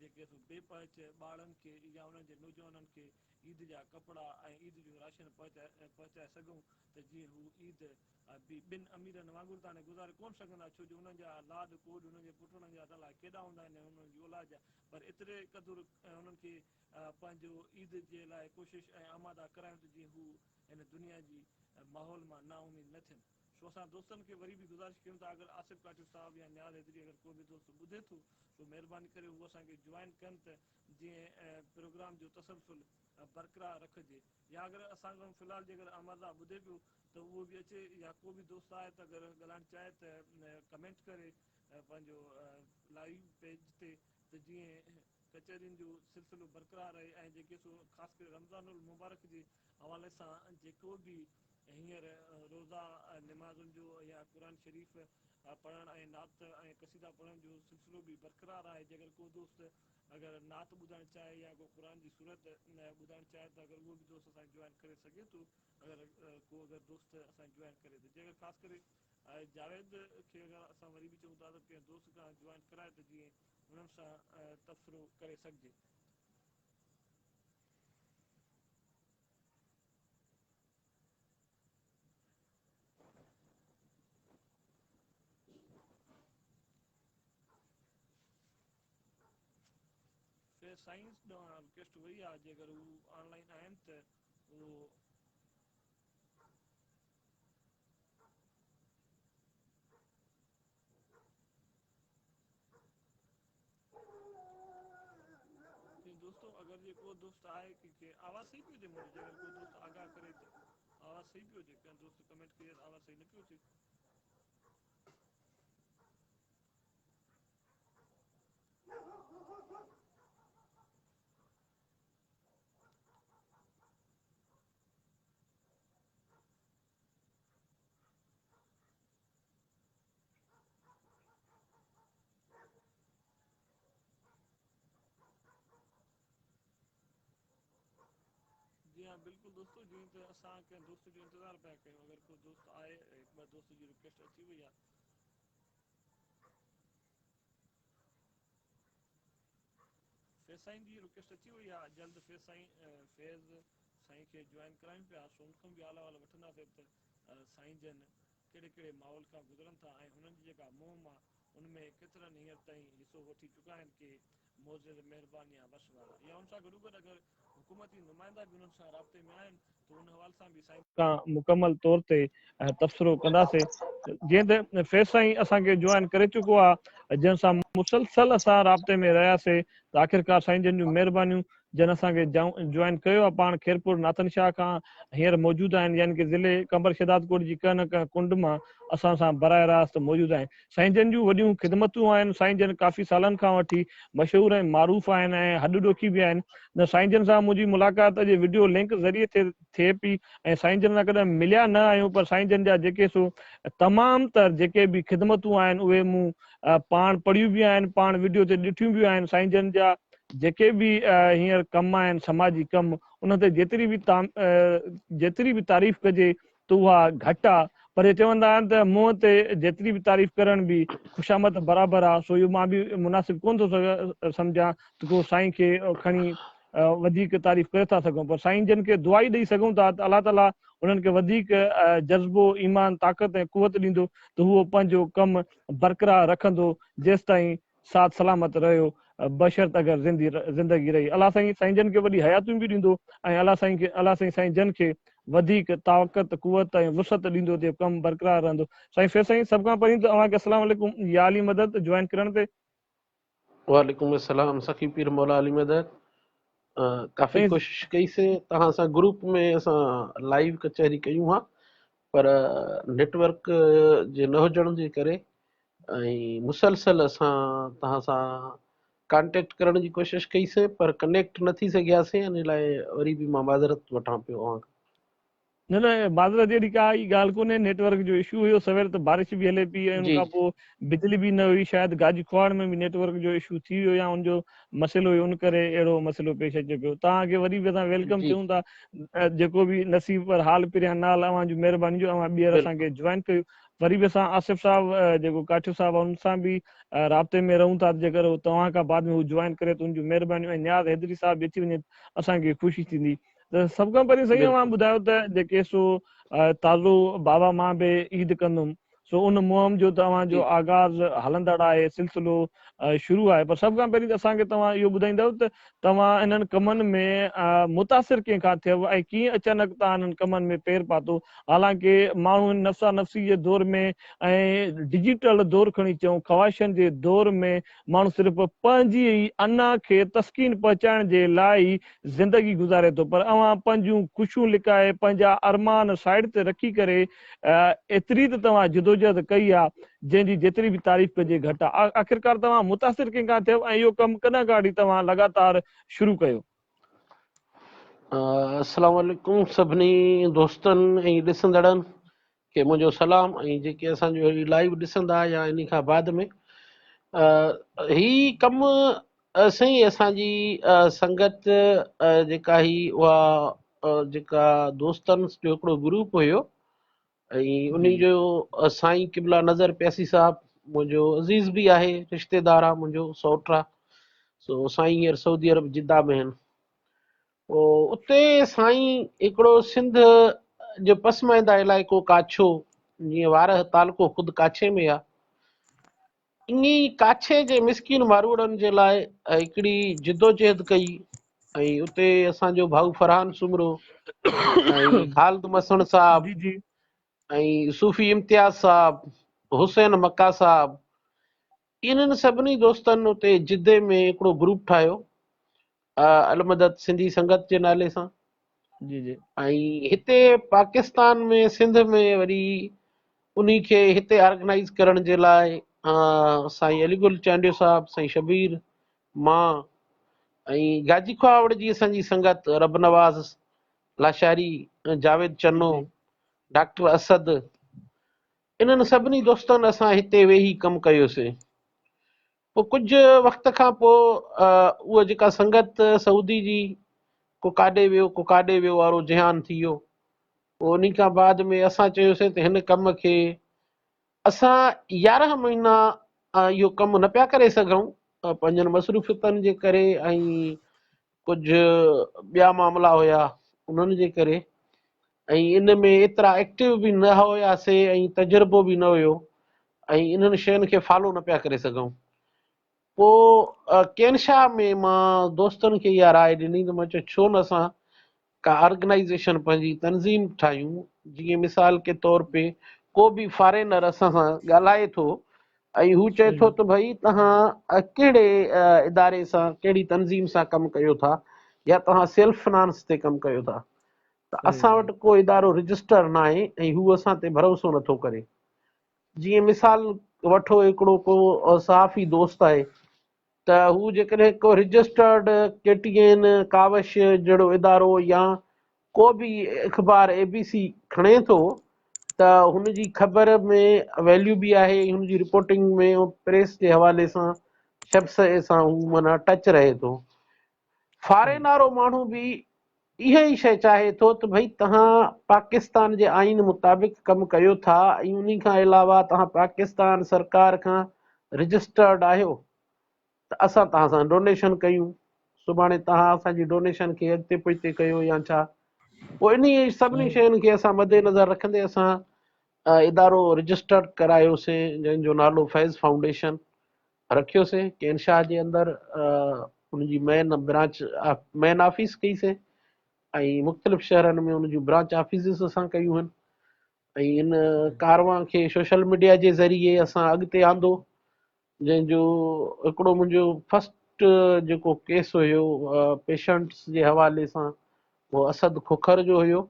جيڪي سو بي پهچ ٻارڙن کي يا انهن جي نوجوانن کي عيد جا ڪپڙا ۽ عيد جو راشن پهچائي سگهون ته جيئن هو عيد به ٻن اميرن وانگر تان گذاري ڪونه سگهندا، ڇو جو انهن جا لاڏ ڪوڏ انهن جي پٽڙن جا الاء ڪيڏا هوندا آهن ۽ انهن جي اولاد جا پر ايتري قدر انهن کي پنهنجو عيد جي لاء ڪوشش ۽ آماده ڪرايون ته جيئن هو هن دنيا جي ماحول مان نا اميد نه ٿين. سو اسان دوستن کي وري به گذارش ڪيون ٿا اگر آصف ڪاٺيو صاحب يا نياز حيدري اگر ڪو به دوست ٻڌي ٿو سو مهرباني ڪري هو اسان کي جوائن ڪن ته جيئن پروگرام جو تسلسل برقرار رکجي. يا اگر اسان کان في الحال جيڪر آمر راء ٻڌي پيو ته اهو به اچي يا ڪو به دوست آهي ته اگر ڳالهائڻ چاهي ته ڪمينٽ ڪري پنهنجو لائيو پيج تي ته جيئن ڪچهرين جو سلسلو برقرار رهي ۽ جيڪي سو خاص ڪري رمضان المبارڪ جي حوالي سان جيڪو به هينئر روزا نمازن جو يا قرآن شريف پڙهڻ ۽ نعت ۽ قصيدا پڙهڻ جو سلسلو به برقرار آهي جيڪر ڪو دوست اگر نعت ٻڌائڻ چاهي يا ڪو قرآن جي سورت ٻڌائڻ چاهي ته اگر اهو به دوست اسان کي جوائن ڪري سگهي ٿو اگر ڪو اگر دوست اسان کي جوائن ڪري ته جي اگر خاص ڪري جاويد کي اگر اسان وري به چئون ٿا ته ڪنهن دوست کان جوائن ڪرائي ته جيئن انهن سان تبصرو ڪري سگهجي. سي سائنس ڏانهن رڪويسٽ وئي آ جيڪر هو آن لائين آهن ته اهو جي دوستو اگر جي ڪو دوست آهي ڪي کي آواز صحيح پيو اچي منهنجو جيڪر ڪو دوست آگاهه ڪري ته آواز صحيح پيو اچي ڪنهن دوست ڪمينٽ ڪئي آواز صحيح نه پيو اچي جي ها بلڪل دوستو جيئن ته اسان ڪنهن دوست جو انتظار پيا ڪيون اگر ڪو دوست آهي ٻه دوست جي رڪويسٽ اچي وئي آهي. فيض سائين جي رڪيسٽ اچي وئي آ جلد فيض سائين فيض سائين کي جوائن ڪرايون پيا سو ان کان به حال احوال وٺنداسين ته سائين جن ڪهڙي ڪهڙي ماحول کان گذرن ٿا ۽ هنن جي جيڪا مهم آ ان ۾ ڪيترن هينئر تائين حصو وٺي چڪا آهن ڪي معزز مهربان يا وس وارا يا ان سان گڏوگڏ اگر حڪومتي نمائندا به انهن سان رابطي ۾ آهن ته ان حوالي سان به سائين سان مڪمل طور تي تبصرو ڪنداسين جيئن ته فيض سائين اسان کي جوائن ڪري چڪو آهي جنهن سان مسلسل اسان رابطي ۾ رهياسين ته آخرڪار سائين جن جون مهربانيون جن اسان کي جوائن ڪيو آ پاڻ خيرپور ناٿن شاهه کان هينئر موجود آهن يعني ڪه ضلعي قمبر شهدادڪوٽ جي ڪنهن نه ڪنهن ڪنڊ مان اسان سان براه راست موجود آهن سائين جن جون وڏيون خدمتون آهن سائين جن ڪافي سالن کان وٺي مشهور ۽ معروف آهن ۽ هڏ ڏوکي به آهن نه سائين جن سان منهنجي ملاقات اڄ وڊيو لنڪ ذريعي ٿي ٿئي پي ۽ سائين جن سان ڪڏهن مليا نه آهيون پر سائين جن جا جيڪي سو تمام تر جيڪي به خدمتون آهن اهي مون پاڻ پڙهيون به آهن پاڻ وڊيو تي ڏٺيون به آهن سائين جن جا جيڪي به هينئر ڪم آهن سماجي ڪم انهن تي جيتري به جيتري به تعريف ڪجي ته اها گهٽ آ پر هي چوندا آهن ته منهن تي جيتري به تعريف ڪرڻ به خوشامد برابر آ سو اهو مان به مناسب ڪون ٿو سمجهان ته ڪو سائين کي کڻي وڌيڪ تعريف ڪري ٿا سگهون پر سائين جن کي دعائي ڏئي سگهون ٿا ته الله تعالي انهن کي وڌيڪ جذبو ايمان طاقت ۽ قوت ڏيندو ته هو پنهنجو ڪم برقرار رکندو جيستائين ساٿ سلامت رهيو بشرط اگر زندي زندگي رهي الله سائين سائين جن کي وڏي حياتيون به ڏيندو ۽ الله سائين کي الله سائين سائين جن کي وڌيڪ طاقت قوت ۽ وسعت ڏيندو تي ڪم برقرار رهندو سائين فيض سائين سڀ کان پهرين ته اوهان کي السلام عليڪم يا علي مدد جوائن ڪرڻ تي وعليڪم السلام سخي پير مولا علي مدد ڪافي ڪوشش ڪئي سي توهان سان گروپ ۾ اسان لائيو ڪچهري ڪيون ها پر نيٽ ورڪ جي نه هجڻ جي ڪري ۽ مسلسل اسان توهان سان ڪانٽيڪٽ ڪرڻ جي ڪوشش ڪئي سي پر ڪنيڪٽ نه ٿي سگهياسين ان لاء وري به مان معذرت وٺان پيو اوهان کان نه نه معذرت اهڙي ڪا ئي ڳالهه ڪونهي نيٽ ورڪ جو اشو هيو سوير ته بارش به هلي پئي ۽ ان کان پوء بجلي به نه هئي شايد گاجي کوهاڻ ۾ به نيٽ ورڪ جو اشو ٿي ويو يا ان جو مسئلو هيو ان ڪري اهڙو مسئلو پيش اچي پيو توهان کي وري به اسان ويلڪم چيون ٿا جيڪو به نصيب پر حال پريان نال اوهان جي مهرباني جو اوهان ٻيهر اسان کي جوائن ڪيو وري به اسان آصف صاحب جيڪو ڪاٺيو صاحب آهي ان سان به رابطي ۾ رهون ٿا جيڪر توهان کان بعد ۾ هو جوائن ڪري ته ان جون مهربانيون ۽ نياز حيدري صاحب به اچي وڃي اسان کي خوشي ٿيندي سڀ کان پهرين سائين اوهان ٻڌايو ته جيڪي سو تازو بابا مان به عيد ڪندم سو ان مهم جو ته اوهان جو آغاز هلندڙ آهي سلسلو شروع آهي پر سڀ کان پهرين ته اسان کي توهان اهو ٻڌائيندؤ ته توهان انهن ڪمن ۾ متاثر ڪنهن کان ٿيو ۽ ڪيئن اچانڪ توهان انهن ڪمن ۾ پير پاتو حالانڪه ماڻهو نفسا نفسي جي دور ۾ ۽ ڊجيٽل دور کڻي چئون خواهشن جي دور ۾ ماڻهو صرف پنهنجي ئي انا کي تسڪين پهچائڻ جي لاء ئي زندگي گذاري ٿو پر اوهان پنهنجون خوشيون لڪائي پنهنجا ارمان سائيڊ تي رکي ڪري ايتري ته توهان جدوجهد ڪئي آ جنهن جي جيتري به تعريف ڪجي گهٽ آ آخرڪار توهان متاثر ڪنهن کان ٿيو ۽ اهو ڪم ڪڏهن کان وٺي توهان لڳاتار شروع ڪيو. السلام عليڪم سڀني دوستن ۽ ڏسندڙن کي منهنجو سلام ۽ جيڪي اسان جو هي لائيو ڏسندا يا انهي کان بعد ۾ هي ڪم سائين اسان جي سنگت جيڪا هي اها جيڪا دوستن جو هڪڙو گروپ هيو ۽ انهي جو سائين قبلا نظر پياسي صاحب منهنجو عزيز به آهي رشتيدار آهي منهنجو سوٽ آهي سو سائين هينئر سعودي عرب جده ۾ آهن پوء اتي سائين هڪڙو سنڌ جو پسمائنده علائقو ڪاڇو جيئن وارهه تعلقو خود ڪاڇي ۾ آ انهي ڪاڇي جي مسڪين ماروئڙن جي لاء هڪڙي جدوجهد ڪئي ۽ اتي اسان جو ڀائو فرحان سومرو ۽ خالد مسڻ صاحب جي جي ۽ صوفي امتياز صاحب حسين مڪا صاحب انهن سڀني دوستن اتي جدي ۾ هڪڙو گروپ ٺاهيو المدد سنڌي سنگت جي نالي سان جي جي ۽ هتي پاڪستان ۾ سنڌ ۾ وري انهي کي هتي آرگنائيز ڪرڻ جي لاء سائين علي گل چانڊيو صاحب سائين شبير مان ۽ گاجي کهاوڙ جي اسان جي سنگت رب نواز لاشاري جاويد چنو ڊاڪٽر اسد انهن سڀني دوستن اسان هتي ويهي ڪم ڪيوسين. پوء ڪجهه وقت کان پوء اها جيڪا سنگت سعودي جي ڪو ڪاڏي ويو ڪو ڪاڏي ويو وارو جهان ٿي ويو. پوء انهي کان بعد ۾ اسان چيوسين ته هن ڪم کي اسان يارهن مهينا اهو ڪم نه پيا ڪري سگهون پنهنجن مصروفيتن جي ڪري ۽ ڪجهه ٻيا معاملا هيا انهن جي ڪري ۽ ان ۾ ايترا ايڪٽو به نه هياسي ۽ تجربو به نه هيو ۽ انهن شين کي فالو نه پيا ڪري سگهون پو ڪينشا ۾ مان دوستن کي اها راء ڏني ته مان چيو ڇو نه اسان ڪا آرگنائيزيشن پنهنجي تنظيم ٺاهيون جيئن مثال ڪي طور پي ڪو به فارينر اسان سان ڳالهائي ٿو ۽ هو چئي ٿو ته ڀئي توهان ڪهڙي اداري سان ڪهڙي تنظيم سان ڪم ڪيو ٿا يا توهان سيلف فنانس تي ڪم ڪيو ٿا ته اسان وٽ ڪو ادارو رجسٽر ناهي ۽ هو اسان تي ڀروسو نٿو ڪري جيئن مثال وٺو هڪڙو ڪو صحافي دوست آهي ته هو جيڪڏهن ڪو registered K T N, Kawish جهڙو ادارو يا ڪو به اخبار اي بي سي کڻي ٿو ته هن جي خبر ۾ ويليو به آهي ۽ هن جي رپورٽنگ ۾ پريس جي حوالي سان شبسئي سان هو معنيٰ ٽچ رهي ٿو فارين وارو ماڻهو به اها ئي شيء چاهي ٿو ته ڀئي توهان پاڪستان جي آئين مطابق ڪم ڪيو ٿا ۽ انهي کان علاوه توهان پاڪستان سرڪار کان رجسٽرڊ آهيو ته اسان توهان سان ڊونيشن ڪيون سڀاڻي توهان اسان جي ڊونيشن کي اڳتي پوئتي ڪيو يا ڇا پوء انهي سڀني شين کي اسان مد نظر رکندي اسان ادارو رجسٽرڊ ڪرايوسين جنهن جو نالو فيض فائونڊيشن رکيوسين ڪين شاهه جي اندر ان جي مين برانچ مين آفيس ڪئي سين ۽ مختلف شهرن ۾ ان جون برانچ آفيسز اسان ڪيون آهن ۽ ان ڪاروان کي سوشل ميڊيا جي ذريعي اسان اڳتي آندو جنهن جو هڪڙو منهنجو فرسٽ جيڪو ڪيس هيو پيشنٽس جي حوالي سان اهو اسد کوکر جو هيو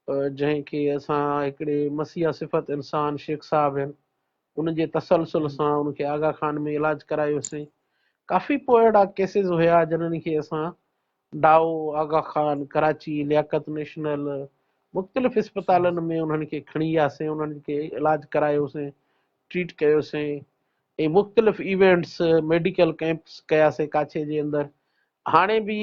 جنهن کي اسان هڪڙي مسيحا صفت انسان شيخ صاحب هن ان جي تسلسل سان ان کي آغا خان ۾ علاج ڪرايوسين ڪافي پوء اهڙا ڪيسز هيا جنن کي اسان ڊائو آغا خان ڪراچي لياقت نيشنل مختلف اسپتالن ۾ انهن کي کڻي وياسين انهن کي علاج ڪرايوسين ٽريٽ ڪيوسين ۽ مختلف ايونٽس ميڊيڪل ڪيمپس ڪياسين ڪاڇي جي اندر هاڻي به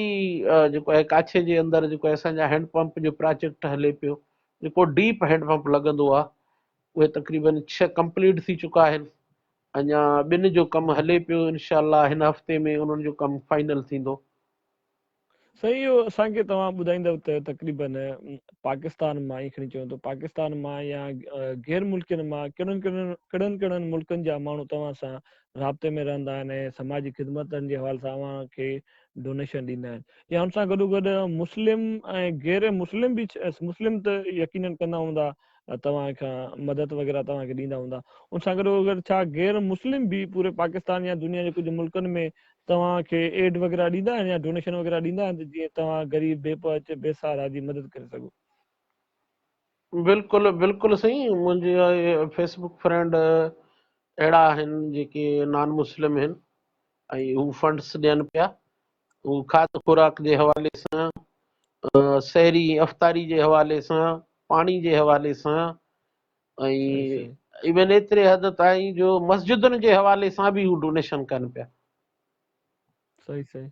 جيڪو آهي ڪاڇي جي اندر جيڪو آهي اسان جا هينڊ پمپ جو پراجيڪٽ هلي پيو جيڪو ڊيپ هينڊ پمپ لڳندو آهي اهي تقريبن ڇهه ڪمپليٽ ٿي چڪا آهن اڃا ٻن جو ڪم هلي پيو انشاء الله هن هفتي ۾ انهن جو ڪم فائنل ٿيندو سائين اهو اسان کي توهان ٻڌائيندو ته تقريبن پاڪستان مان ائين کڻي چون ته پاڪستان مان يا غير ملڪين مان ڪهڙن ڪهڙن ڪهڙن ڪهڙن ملڪن جا ماڻهو توهان سان رابطي ۾ رهندا آهن ۽ سماجي خدمتن جي حوالي سان اوهان کي ڊونيشن ڏيندا آهن يا ان سان گڏوگڏ مسلم ۽ غير مسلم به مسلم ته يقينن ڪندا هوندا توهان کان مدد وغيره توهان کي ڏيندا هوندا ان سان گڏوگڏ ڇا غير مسلم به پوري پاڪستان يا دنيا جي ڪجهه ملڪن ۾ توهان کي ايڊ وغيره ڏيندا آهن يا ڊونيشن وغيره ڏيندا آهن جيئن توهان غريب بي پهچ بي سهارا جي مدد ڪري سگهو. بلڪل بلڪل سائين منهنجي فيس بڪ فرينڊ اهڙا آهن جيڪي نان مسلم آهن ۽ هو فنڊس ڏين پيا هو کاڌ خوراڪ جي حوالي سان سحري افطاري جي حوالي سان پاڻي جي حوالي سان ايون ايتري حد تائين جو مسجدن جي حوالي سان به هو ڊونيشن ڪن پيا صحيح صحيح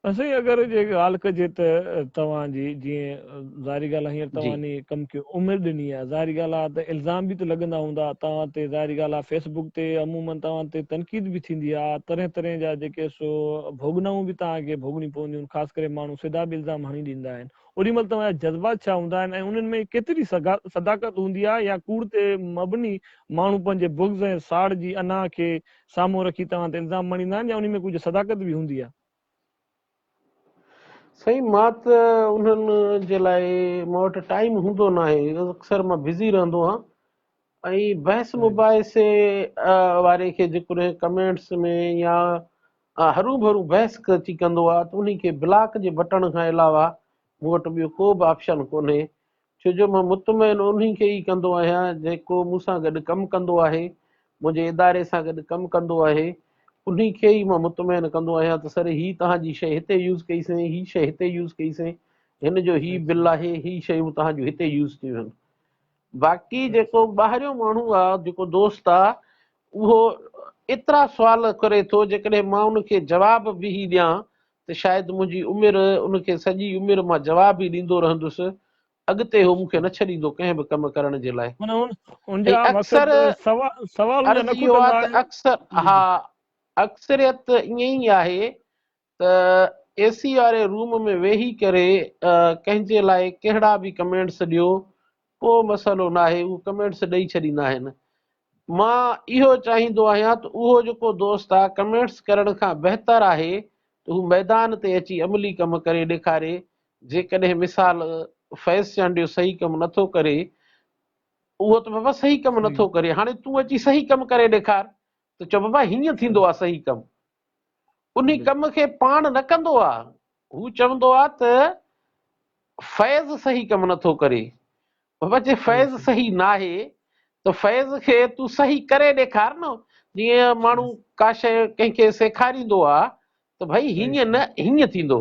اسين اگر جي ڳالهه ڪجي ته توهان جي جيئن ظاهري ڳالهه هينئر توهان ني ڪم کي عمر ڏني آهي ظاهري ڳالهه آهي ته الزام به ته لڳندا هوندا توهان تي ظاهري ڳالهه آهي فيس بڪ تي عمومن توهان تي تنقيد به ٿيندي آهي طرح طرح جا جيڪي سو ڀوڳنائون به توهان کي ڀوڳڻيون پونديون آهن خاص ڪري ماڻهو سڌا به الزام هڻي ڏيندا آهن اوڏي مهل توهان جا جذبات ڇا هوندا آهن ۽ انهن ۾ ڪيتري صداقت هوندي آهي يا ڪوڙ تي مبني ماڻهو پنهنجي بغض ۽ ساڙ جي انا کي سامهون رکي توهان تي الزام مڙهيندا آهن يا انهي ۾ ڪجهه صداقت به هوندي آهي؟ سائين مان ته انهن جي لاء مان وٽ ٽائيم هوندو ناهي اڪثر مان بزي رهندو آهيان ۽ بحث مباحثي واري کي جيڪڏهن ڪمينٽس ۾ يا هرو ڀرو بحث اچي ڪندو آهي ته انهي کي بلاڪ جي بٽڻ کان علاوه مون وٽ ٻيو ڪو به آپشن ڪونهي ڇو جو مان مطمئن انهي کي ئي ڪندو آهيان جيڪو مون سان گڏ ڪم ڪندو آهي، منهنجي اداري سان گڏ ڪم ڪندو آهي، انهي کي ئي مان مطمئن ڪندو آهيان ته سر هي توهان جي شيء هتي يوز ڪئي سين، هي شيء هتي يوز ڪئي سين، هن جو هي بل آهي، هي شيون توهان جون هتي يوز ٿيون آهن. باقي جيڪو ٻاهريون ماڻهو آ، جيڪو دوست آ، اهو ايترا سوال ڪري ٿو، جيڪڏهن مان ان کي جواب به هي ڏيان ته شايد منهنجي عمر ان کي سڄي عمر مان جواب ئي ڏيندو رهندس، اڳتي هو مون کي نه ڇڏيندو ڪنهن به ڪم ڪرڻ جي لاء. معنيٰ ان ان جا ۽ اڪثر مقصد سوال سوالن جا عرض اهو نقطن آ لاء ته اڪثر جي ها جي. اڪثريت ائين ئي آهي ته اي سي واري روم ۾ ويهي ڪري ڪنهن جي لاء ڪهڙا به ڪمينٽس ڏيو ڪو مسئلو ناهي اهو ڪمينٽس ڏئي ڇڏيندا آهن مان اهو چاهيندو آهيان ته اهو جيڪو دوست آ ڪمينٽس ڪرڻ کان بهتر آهي ته هو ميدان تي اچي عملي ڪم ڪري ڏيکاري جيڪڏهن مثال فيض چانڊيو صحيح ڪم نٿو ڪري اهو ته بابا صحيح ڪم نٿو ڪري هاڻي تون اچي صحيح ڪم ڪري ڏيکار ته چو بابا هيئن ٿيندو آ صحيح ڪم انهي ڪم کي پاڻ نه ڪندو آ، هو چوندو آ ته فيض صحيح ڪم نه ٿو ڪري. بابا جي فيض صحيح ناهي ته فيض کي تون صحيح ڪري ڏيکار نه، جيئن ماڻهو ڪا شيء ڪنهن کي سيکاريندو آ ته ڀئي هيئن نه هيئن ٿيندو.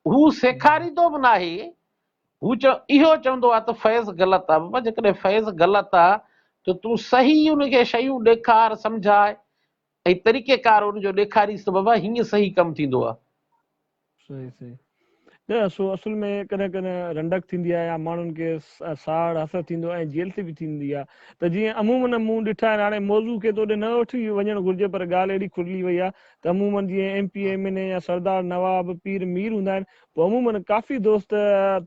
هو سيکاريندو به ناهي، هو اهو چوندو آ ته فيض غلط آ. بابا جيڪڏهن فيض غلط آ ته تون صحيح ان کي شيون ڏيکار، سمجهاء، ۽ طريقه ڪار ان جو ڏيکاري سبب آ هينئن صحيح ڪم ٿيندو آ. صحيح صحيح نه سو اصل ۾ ڪڏهن ڪڏهن رنڊڪ ٿيندي آ يا ماڻهن کي ساڙ حسد ٿيندو ۽ جيلسي به ٿيندي آ ته جيئن عمومن مون ڏٺا آهن هاڻي موضوع کي ته اوڏي نه وٺي وڃڻ گهرجي پر ڳالهه اهڙي کلي وئي آ ته عمومن جيئن M P M N A يا سردار نواب پير مير هوندا آهن پوء عمومن ڪافي دوست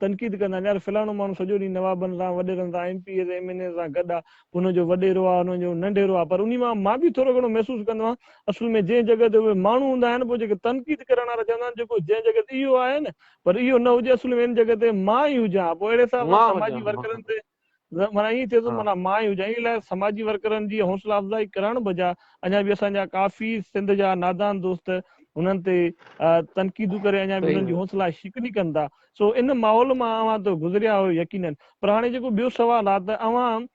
تنقيد ڪندا آهن يار فلاڻو ماڻهو سڄو ڏينهن نوابن سان وڏيرن سان M P As M N As سان گڏ آ پوء هن جو وڏيرو آ هن جو ننڍيرو آ پر انهي مان مان به ٿورو گهڻو محسوس ڪندو آهيان اصل ۾ جنهن جڳهه تي اهي ماڻهو هوندا آهن پوء جيڪي تنقيد ڪرڻ وارا چوندا آهن جيڪو جنهن جڳهه تي اهو آهي نه پر اهو نه هجي اصل ۾ ان جڳهه تي مان ئي هجان ها پوء اهڙي حساب سان سماجي ورڪرن تي معنيٰ ائين ٿئي ٿو معنيٰ مان ئي هجان ان لاء سماجي ورڪرن جي حوصلا افزائي ڪرڻ بجاء اڃا به اسان جا ڪافي سنڌ جا نادان دوست انهن تي تنقيدون ڪري اڃا به انهن جي حوصلا شڪني ڪن ٿا سو ان ماحول مان اوهان ته گذريا آهيو يقينن پر هاڻي جيڪو ٻيو سوال آهي ته اوهان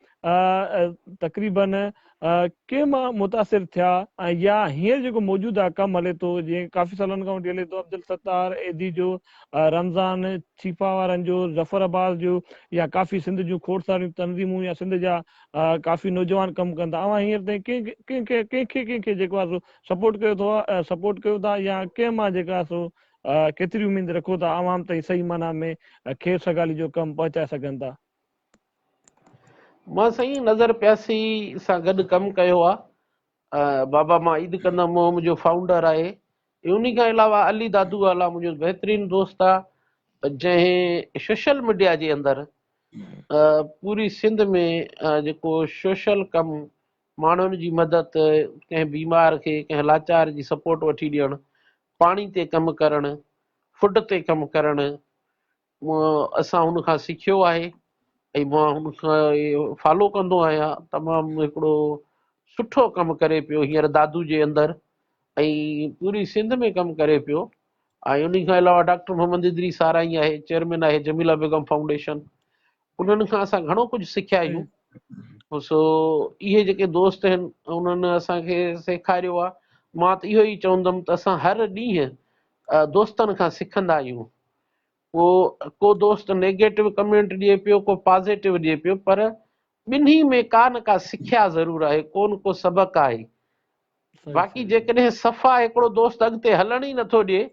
تقريبن ڪي مان متاثر ٿيا ۽ يا هينئر جيڪو موجوده ڪم هلي ٿو جيئن ڪافي سالن کان وٺي هلي ٿو عبدالستار ايڌي جو، رمضان ڇيپا وارن جو، ظفر عباس جو يا ڪافي سنڌ جون کوڙ ساريون تنظيمون يا سنڌ جا ڪافي نوجوان ڪم ڪن ٿا اوهان هينئر تائين ڪنهن ڪنهن کي ڪنهن کي ڪنهن کي جيڪو آهي سو سپورٽ ڪيو اٿو سپورٽ ڪيو ٿا يا ڪنهن مان جيڪا آهي سو ڪيتري اميد رکو ٿا عوام تائين صحيح معنيٰ ۾ خير سگالي جو ڪم پهچائي سگهن ٿا. مان سائين نظر پياسي سان گڏ ڪم ڪيو آ بابا مان عيد ڪندم مون منهنجو فائونڊر آهي ۽ انهي کان علاوه علي دادو اعليٰ منهنجو بهترين دوست آ جنهن سوشل ميڊيا جي اندر پوري سنڌ ۾ جيڪو سوشل ڪم ماڻهن جي مدد ڪنهن بيمار کي ڪنهن لاچار جي سپورٽ وٺي ڏيڻ پاڻي تي ڪم ڪرڻ فوڊ تي ڪم ڪرڻ مان اسان هن کان سکيو آهي ۽ مان هن کان فالو ڪندو آهيان تمام هڪڙو سٺو ڪم ڪري پيو هينئر دادو جي اندر ۽ پوري سنڌ ۾ ڪم ڪري پيو ۽ ان کان علاوه ڊاڪٽر محمد ادري سارائي آهي چيئرمين آهي جميلا بيگم فائونڊيشن انهن کان اسان گهڻو ڪجهه سکيا آهيون سو اهي جيڪي دوست آهن انهن اسان کي سيکاريو آهي مان ته اهو ئي چوندم ته اسان هر ڏينهن دوستن کان سکندا آهيون ڪو ڪو دوست نيگيٽو ڪمينٽ ڏئي پيو ڪو پازيٽو ڏئي پيو پر ٻنهي ۾ ڪا نه ڪا سکيا ضرور آهي ڪو نه ڪو سبق آهي باقي جيڪڏهن صفا هڪڙو دوست اڳتي هلڻ ئي نٿو ڏئي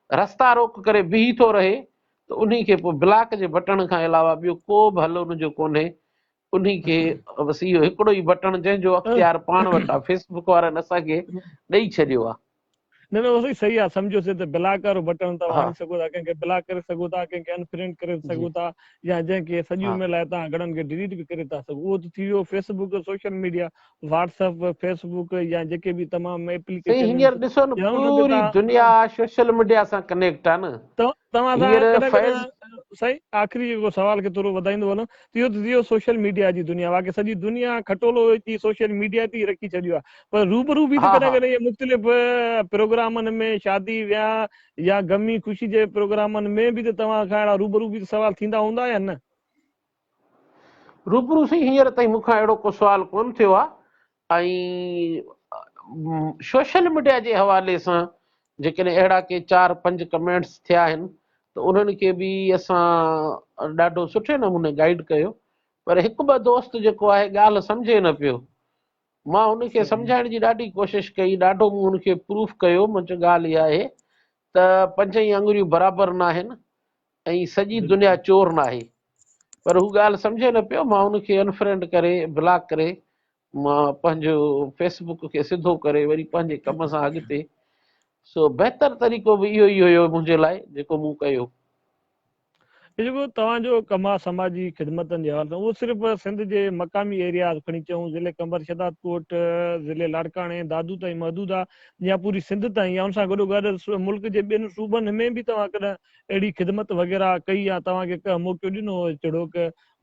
رستا روڪ ڪري بيهي ٿو رهي ته انهي کي پوء بلاڪ جي بٽڻ کان علاوه ٻيو ڪو به حل ان جو ڪونهي انهي کي بس اهو هڪڙو ئي بٽڻ جنهن جو اختيار پاڻ وٽ آ فيس بڪ وارن اسان کي ڏئي ڇڏيو آ. نه نه سائين صحيح آ سمجهيوسي ته بلاڪ وارو بٽڻ توهان هڻي سگهو ٿا ڪنهن کي بلاڪ ڪري سگهو ٿا ڪنهن کي انفرينڊ ڪري سگهو ٿا يا جنهن کي سڄي عمر لاء توهان گهڻن کي ڊليٽ به ڪري ٿا سگهو اهو ته ٿي ويو Facebook social media WhatsApp Facebook يا جيڪي به تمام ايپليڪيشن سائين هينئر ڏسو نه پوري دنيا سوشل ميڊيا سان ڪنيڪٽ آ نه توهان سان فيض سائين آخري جيڪو سوال کي ٿورو وڌائيندو وڃان اهو ته ٿيو سوشل ميڊيا جي دنيا واقعي سڄي دنيا کٽولو اچي سوشل ميڊيا تي رکي ڇڏيو آهي پر روبرو به ڪڏهن ڪڏهن اهي مختلف پروگرامن ۾ شادي وياهه يا غمي خوشي جي پروگرامن ۾ به ته توهان کان اهڙا روبرو به سوال ٿيندا هوندا يا نه روبرو سائين هينئر تائين مون کان اهڙو ڪو سوال ڪونه ٿيو آهي ۽ سوشل ميڊيا جي حوالي سان جيڪڏهن اهڙا ڪي چار پنج ڪمينٽس ٿيا آهن ته انهن کي به اسان ڏاڍو سٺي نموني گائيڊ ڪيو پر هڪ ٻه دوست جيڪو آهي ڳالهه سمجهي نه پيو مان ان کي سمجهائڻ جي ڏاڍي ڪوشش ڪئي ڏاڍو مون ان کي پروف ڪيو مون چيو ڳالهه اها آهي ته پنج ئي آڱريون برابر ناهن ۽ سڄي دنيا چور ناهي پر هو ڳالهه سمجهي نه پيو مان ان کي انفرينڊ ڪري بلاڪ ڪري مان پنهنجو فيس بڪ کي سڌو ڪري وري پنهنجي ڪم سان اڳتي سو بهتر طريقو به اهو ئي هيو منهنجي لاء جيڪو مون ڪيو. جيڪو توهان جو ڪم آهي سماجي خدمتن جي حوالي سان اهو صرف سنڌ جي مقامي ايرياز کڻي چئون ضلعي قمبر شهداد ڪوٽ ضلعي لاڙڪاڻي دادو تائين محدود آهي يا پوري سنڌ تائين يا ان سان گڏو گڏ ملڪ جي ٻين صوبن ۾ به توهان ڪڏهن اهڙي خدمت وغيره ڪئي يا توهان کي ڪنهن موقعو ڏنو هو جهڙوڪ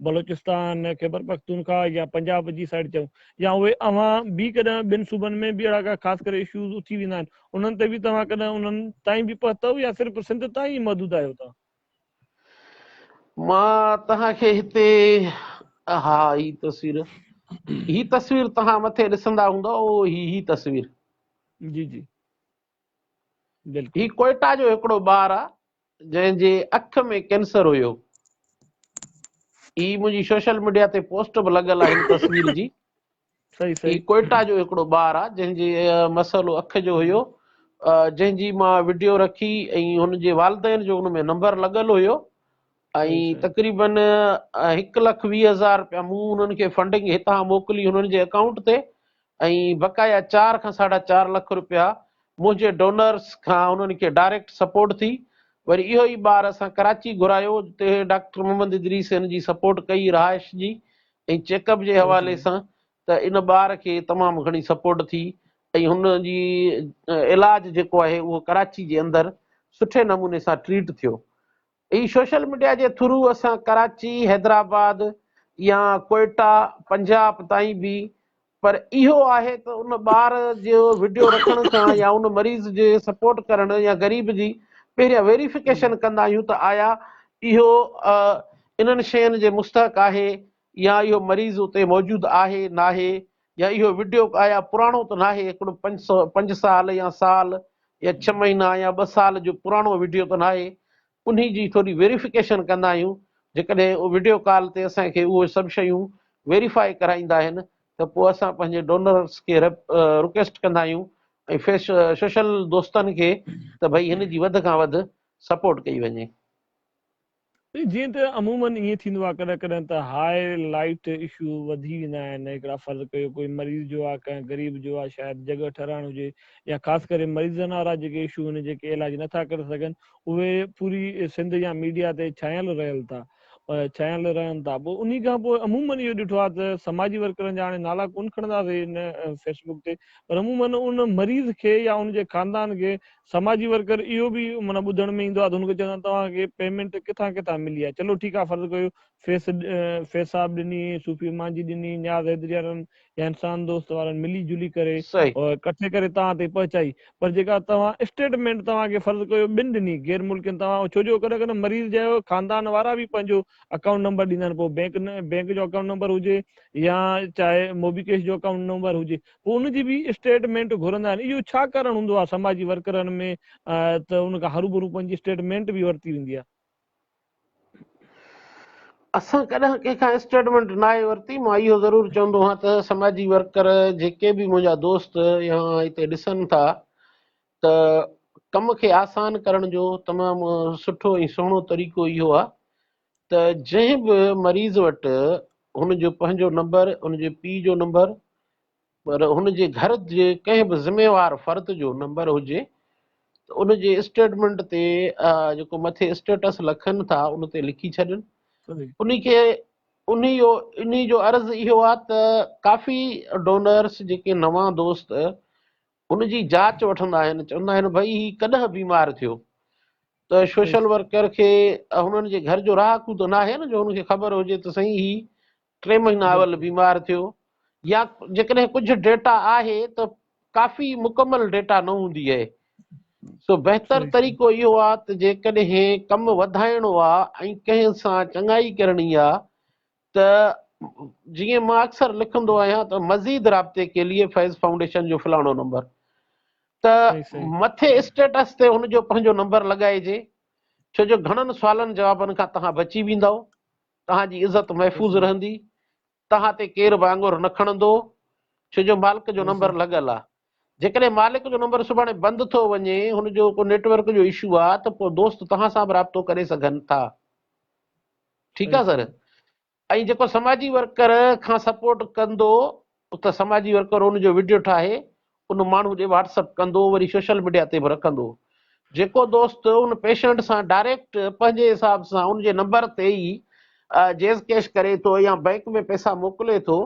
بلوچستان، خيبرپختونخواهه يا پنجاب جي سائيڊ چئون يا اهي اوهان به ڪڏهن ٻين صوبن ۾ به اهڙا ڪا خاص ڪري اشوز اٿي ويندا آهن انهن تي به توهان ڪڏهن انهن تائين به پهتؤ يا صرف سنڌ تائين ئي محدود آهيو توهان؟ مان توهان کي هتي اها هي تصوير هي تصوير توهان مٿي ڏسندا هوندا اهو هي هي تصوير جي جي هي ڪوئيٽا جو هڪڙو ٻار آ جنهن جي اک ۾ ڪينسر هيو هي منهنجي سوشل ميڊيا تي پوسٽ به لڳل آ هن تصوير جي هي ڪوئيٽا جو هڪڙو ٻار آ جنهن جي مسئلو اک جو هيو جنهن جي مان وڊيو رکي ۽ هن جي والدين جو ان ۾ نمبر لڳل هيو ۽ تقريبن هڪ لک ويهه هزار رپيا مون انهن کي فنڊنگ هتان موڪلي انهن جي اڪائونٽ تي ۽ بقايا چار کان ساڍا چار لک رپيا منهنجي ڊونرز کان انهن کي ڊائريڪٽ سپورٽ ٿي وري اهو ئي ٻار اسان ڪراچي گهرايو جتي ڊاڪٽر محمد ادريس ان جي سپورٽ ڪئي رهائش جي ۽ چيڪ اپ جي حوالي سان ته ان ٻار کي تمام گهڻي سپورٽ ٿي ۽ هن جي علاج جيڪو آهي اهو ڪراچي جي اندر سٺي نموني سان ٽريٽ ٿيو هي سوشل ميڊيا جي ٿرو اسان ڪراچي، حيدرآباد يا ڪوئيٽا، پنجاب تائين به پر اهو آهي ته ان ٻار جو وڊيو رکڻ کان يا ان مريض جي سپورٽ ڪرڻ يا غريب جي پهريان ويريفڪيشن ڪندا آهيون ته آيا اهو انهن شين جي مستحق آهي يا اهو مريض اتي موجود آهي ناهي يا اهو وڊيو آيا پراڻو ته ناهي هڪڙو پنج سو پنج سال يا سال يا ڇهه مهينا يا ٻه سال جو پراڻو وڊيو ته ناهي انهي جي ٿوري ويريفڪيشن ڪندا آهيون جيڪڏهن وڊيو ڪال تي اسان کي اهي سڀ شيون ويريفائي ڪرائيندا آهن ته پوء اسان پنهنجي ڊونرس کي رڪويسٽ ڪندا آهيون ۽ سوشل دوستن کي ته ڀئي هن جي وڌ کان وڌ سپورٽ ڪئي وڃي. جيئن ته عموماً ائين ٿيندو آهي ڪڏهن ڪڏهن ته هاء لائيٽ اشو وڌي ويندا آهن هڪڙا فرض ڪيو ڪوئي مريض جو آهي ڪنهن غريب جو آهي شايد جڳهه ٺهرائڻ هجي يا خاص ڪري مريضن وارا جيڪي اشو هن جيڪي علاج نٿا ڪري سگهن اهي پوري سنڌ يا ميڊيا تي ڇانيل رهيل ٿا ڇانيل رهن ٿا پوء انهي کان پوء عموماً اهو ڏٺو آهي ته سماجي ورڪرن جا هاڻي نالا ڪون کڻنداسي ان فيسبوڪ تي پر عموماً ان مريض کي يا ان جي خاندان کي سماجي ورڪر اهو به معنيٰ ٻڌڻ ۾ ايندو آهي ته هن کي چوندا آهن توهان کي پيمينٽ ڪٿان ڪٿان ملي آهي چلو ٺيڪ آهي فرض ڪيو فيس فيض صاحب ڏني، صوفي مانجهي ڏني، نياز حيدري وارن يا انسان دوست وارن ملي جلي ڪري ڪٺي ڪري توهان تائين پهچائي پر جيڪا توهان اسٽيٽمينٽ توهان کي فرض ڪيو ٻن ڏني غير ملڪين توهان ڇو جو ڪڏهن ڪڏهن مريض جا خاندان وارا به پنهنجو اڪائونٽ نمبر ڏيندا آهن پوء بينڪ بينڪ جو اڪائونٽ نمبر هجي يا چاهي موبي ڪيش جو اڪائونٽ نمبر هجي پوء ان جي به اسٽيٽمينٽ گهرندا آهن اهو ڇا ڪارڻ هوندو آهي سماجي ورڪرن ۾ ته ان کان هروڀرو پنهنجي اسٽيٽمينٽ به ورتي ويندي آهي. اسان ڪڏهن ڪنهن کان اسٽيٽمينٽ ناهي ورتي مان اهو ضرور چوندو آهيان ته سماجي ورڪر جيڪي به منهنجا دوست يا هتي ڏسن ٿا ته ڪم کي آسان ڪرڻ جو تمام سٺو ۽ سهڻو طريقو اهو آهي ته جنهن به مريض وٽ هن جو پنهنجو نمبر، هن جي پيء جو نمبر پر هن جي گهر جي ڪنهن به ذميوار فرد جو نمبر هجي ته ان جي اسٽيٽمينٽ تي جيڪو مٿي اسٽيٽس لکن ٿا ان تي لکي ڇڏن ان کي ان جو ان جو عرض اهو آهي ته ڪافي ڊونرس جيڪي نوان دوست ان جي جاچ وٺندا آهن، چوندا آهن ڀئي هي ڪڏهن بيمار ٿيو ته سوشل ورڪر کي هنن جي گهر جو رهاڪو ته ناهي نه جو هن کي خبر هجي ته سائين هي ٽي مهينا اول بيمار ٿيو يا جيڪڏهن ڪجهه ڊيٽا آهي ته ڪافي مڪمل ڊيٽا نه هوندي آهي سو بهتر طريقو اهو آهي ته جيڪڏهن ڪم وڌائڻو آهي ۽ ڪنهن سان چڱائي ڪرڻي آهي ته جيئن مان اڪثر لکندو آهيان ته مزيد رابطي ڪي ليئي فيض فائونڊيشن جو فلاڻو نمبر ته مٿي اسٽيٽس تي ان جو پنهنجو نمبر لڳائجي ڇو جو گهڻن سوالن جوابن کان توهان بچي ويندو توهان جي عزت محفوظ رهندي توهان تي ڪير به آڱر نه کڻندو ڇو جو مالڪ جو نمبر لڳل آهي جيڪڏهن مالڪ جو نمبر سڀاڻي بند ٿو وڃي هن جو ڪو نيٽورڪ جو اشو آهي ته پوء دوست توهان سان به رابطو ڪري سگهن ٿا ٺيڪ آ سر ۽ جيڪو سماجي ورڪر کان سپورٽ ڪندو ته سماجي ورڪر ان جو وڊيو ٺاهي ان ماڻهو ڏي واٽسپ ڪندو وري سوشل ميڊيا تي به رکندو جيڪو دوست ان پيشنٽ سان ڊائريڪٽ پنهنجي حساب سان ان جي نمبر تي ئي جيز ڪيش ڪري ٿو يا بئنڪ ۾ پئسا موڪلي ٿو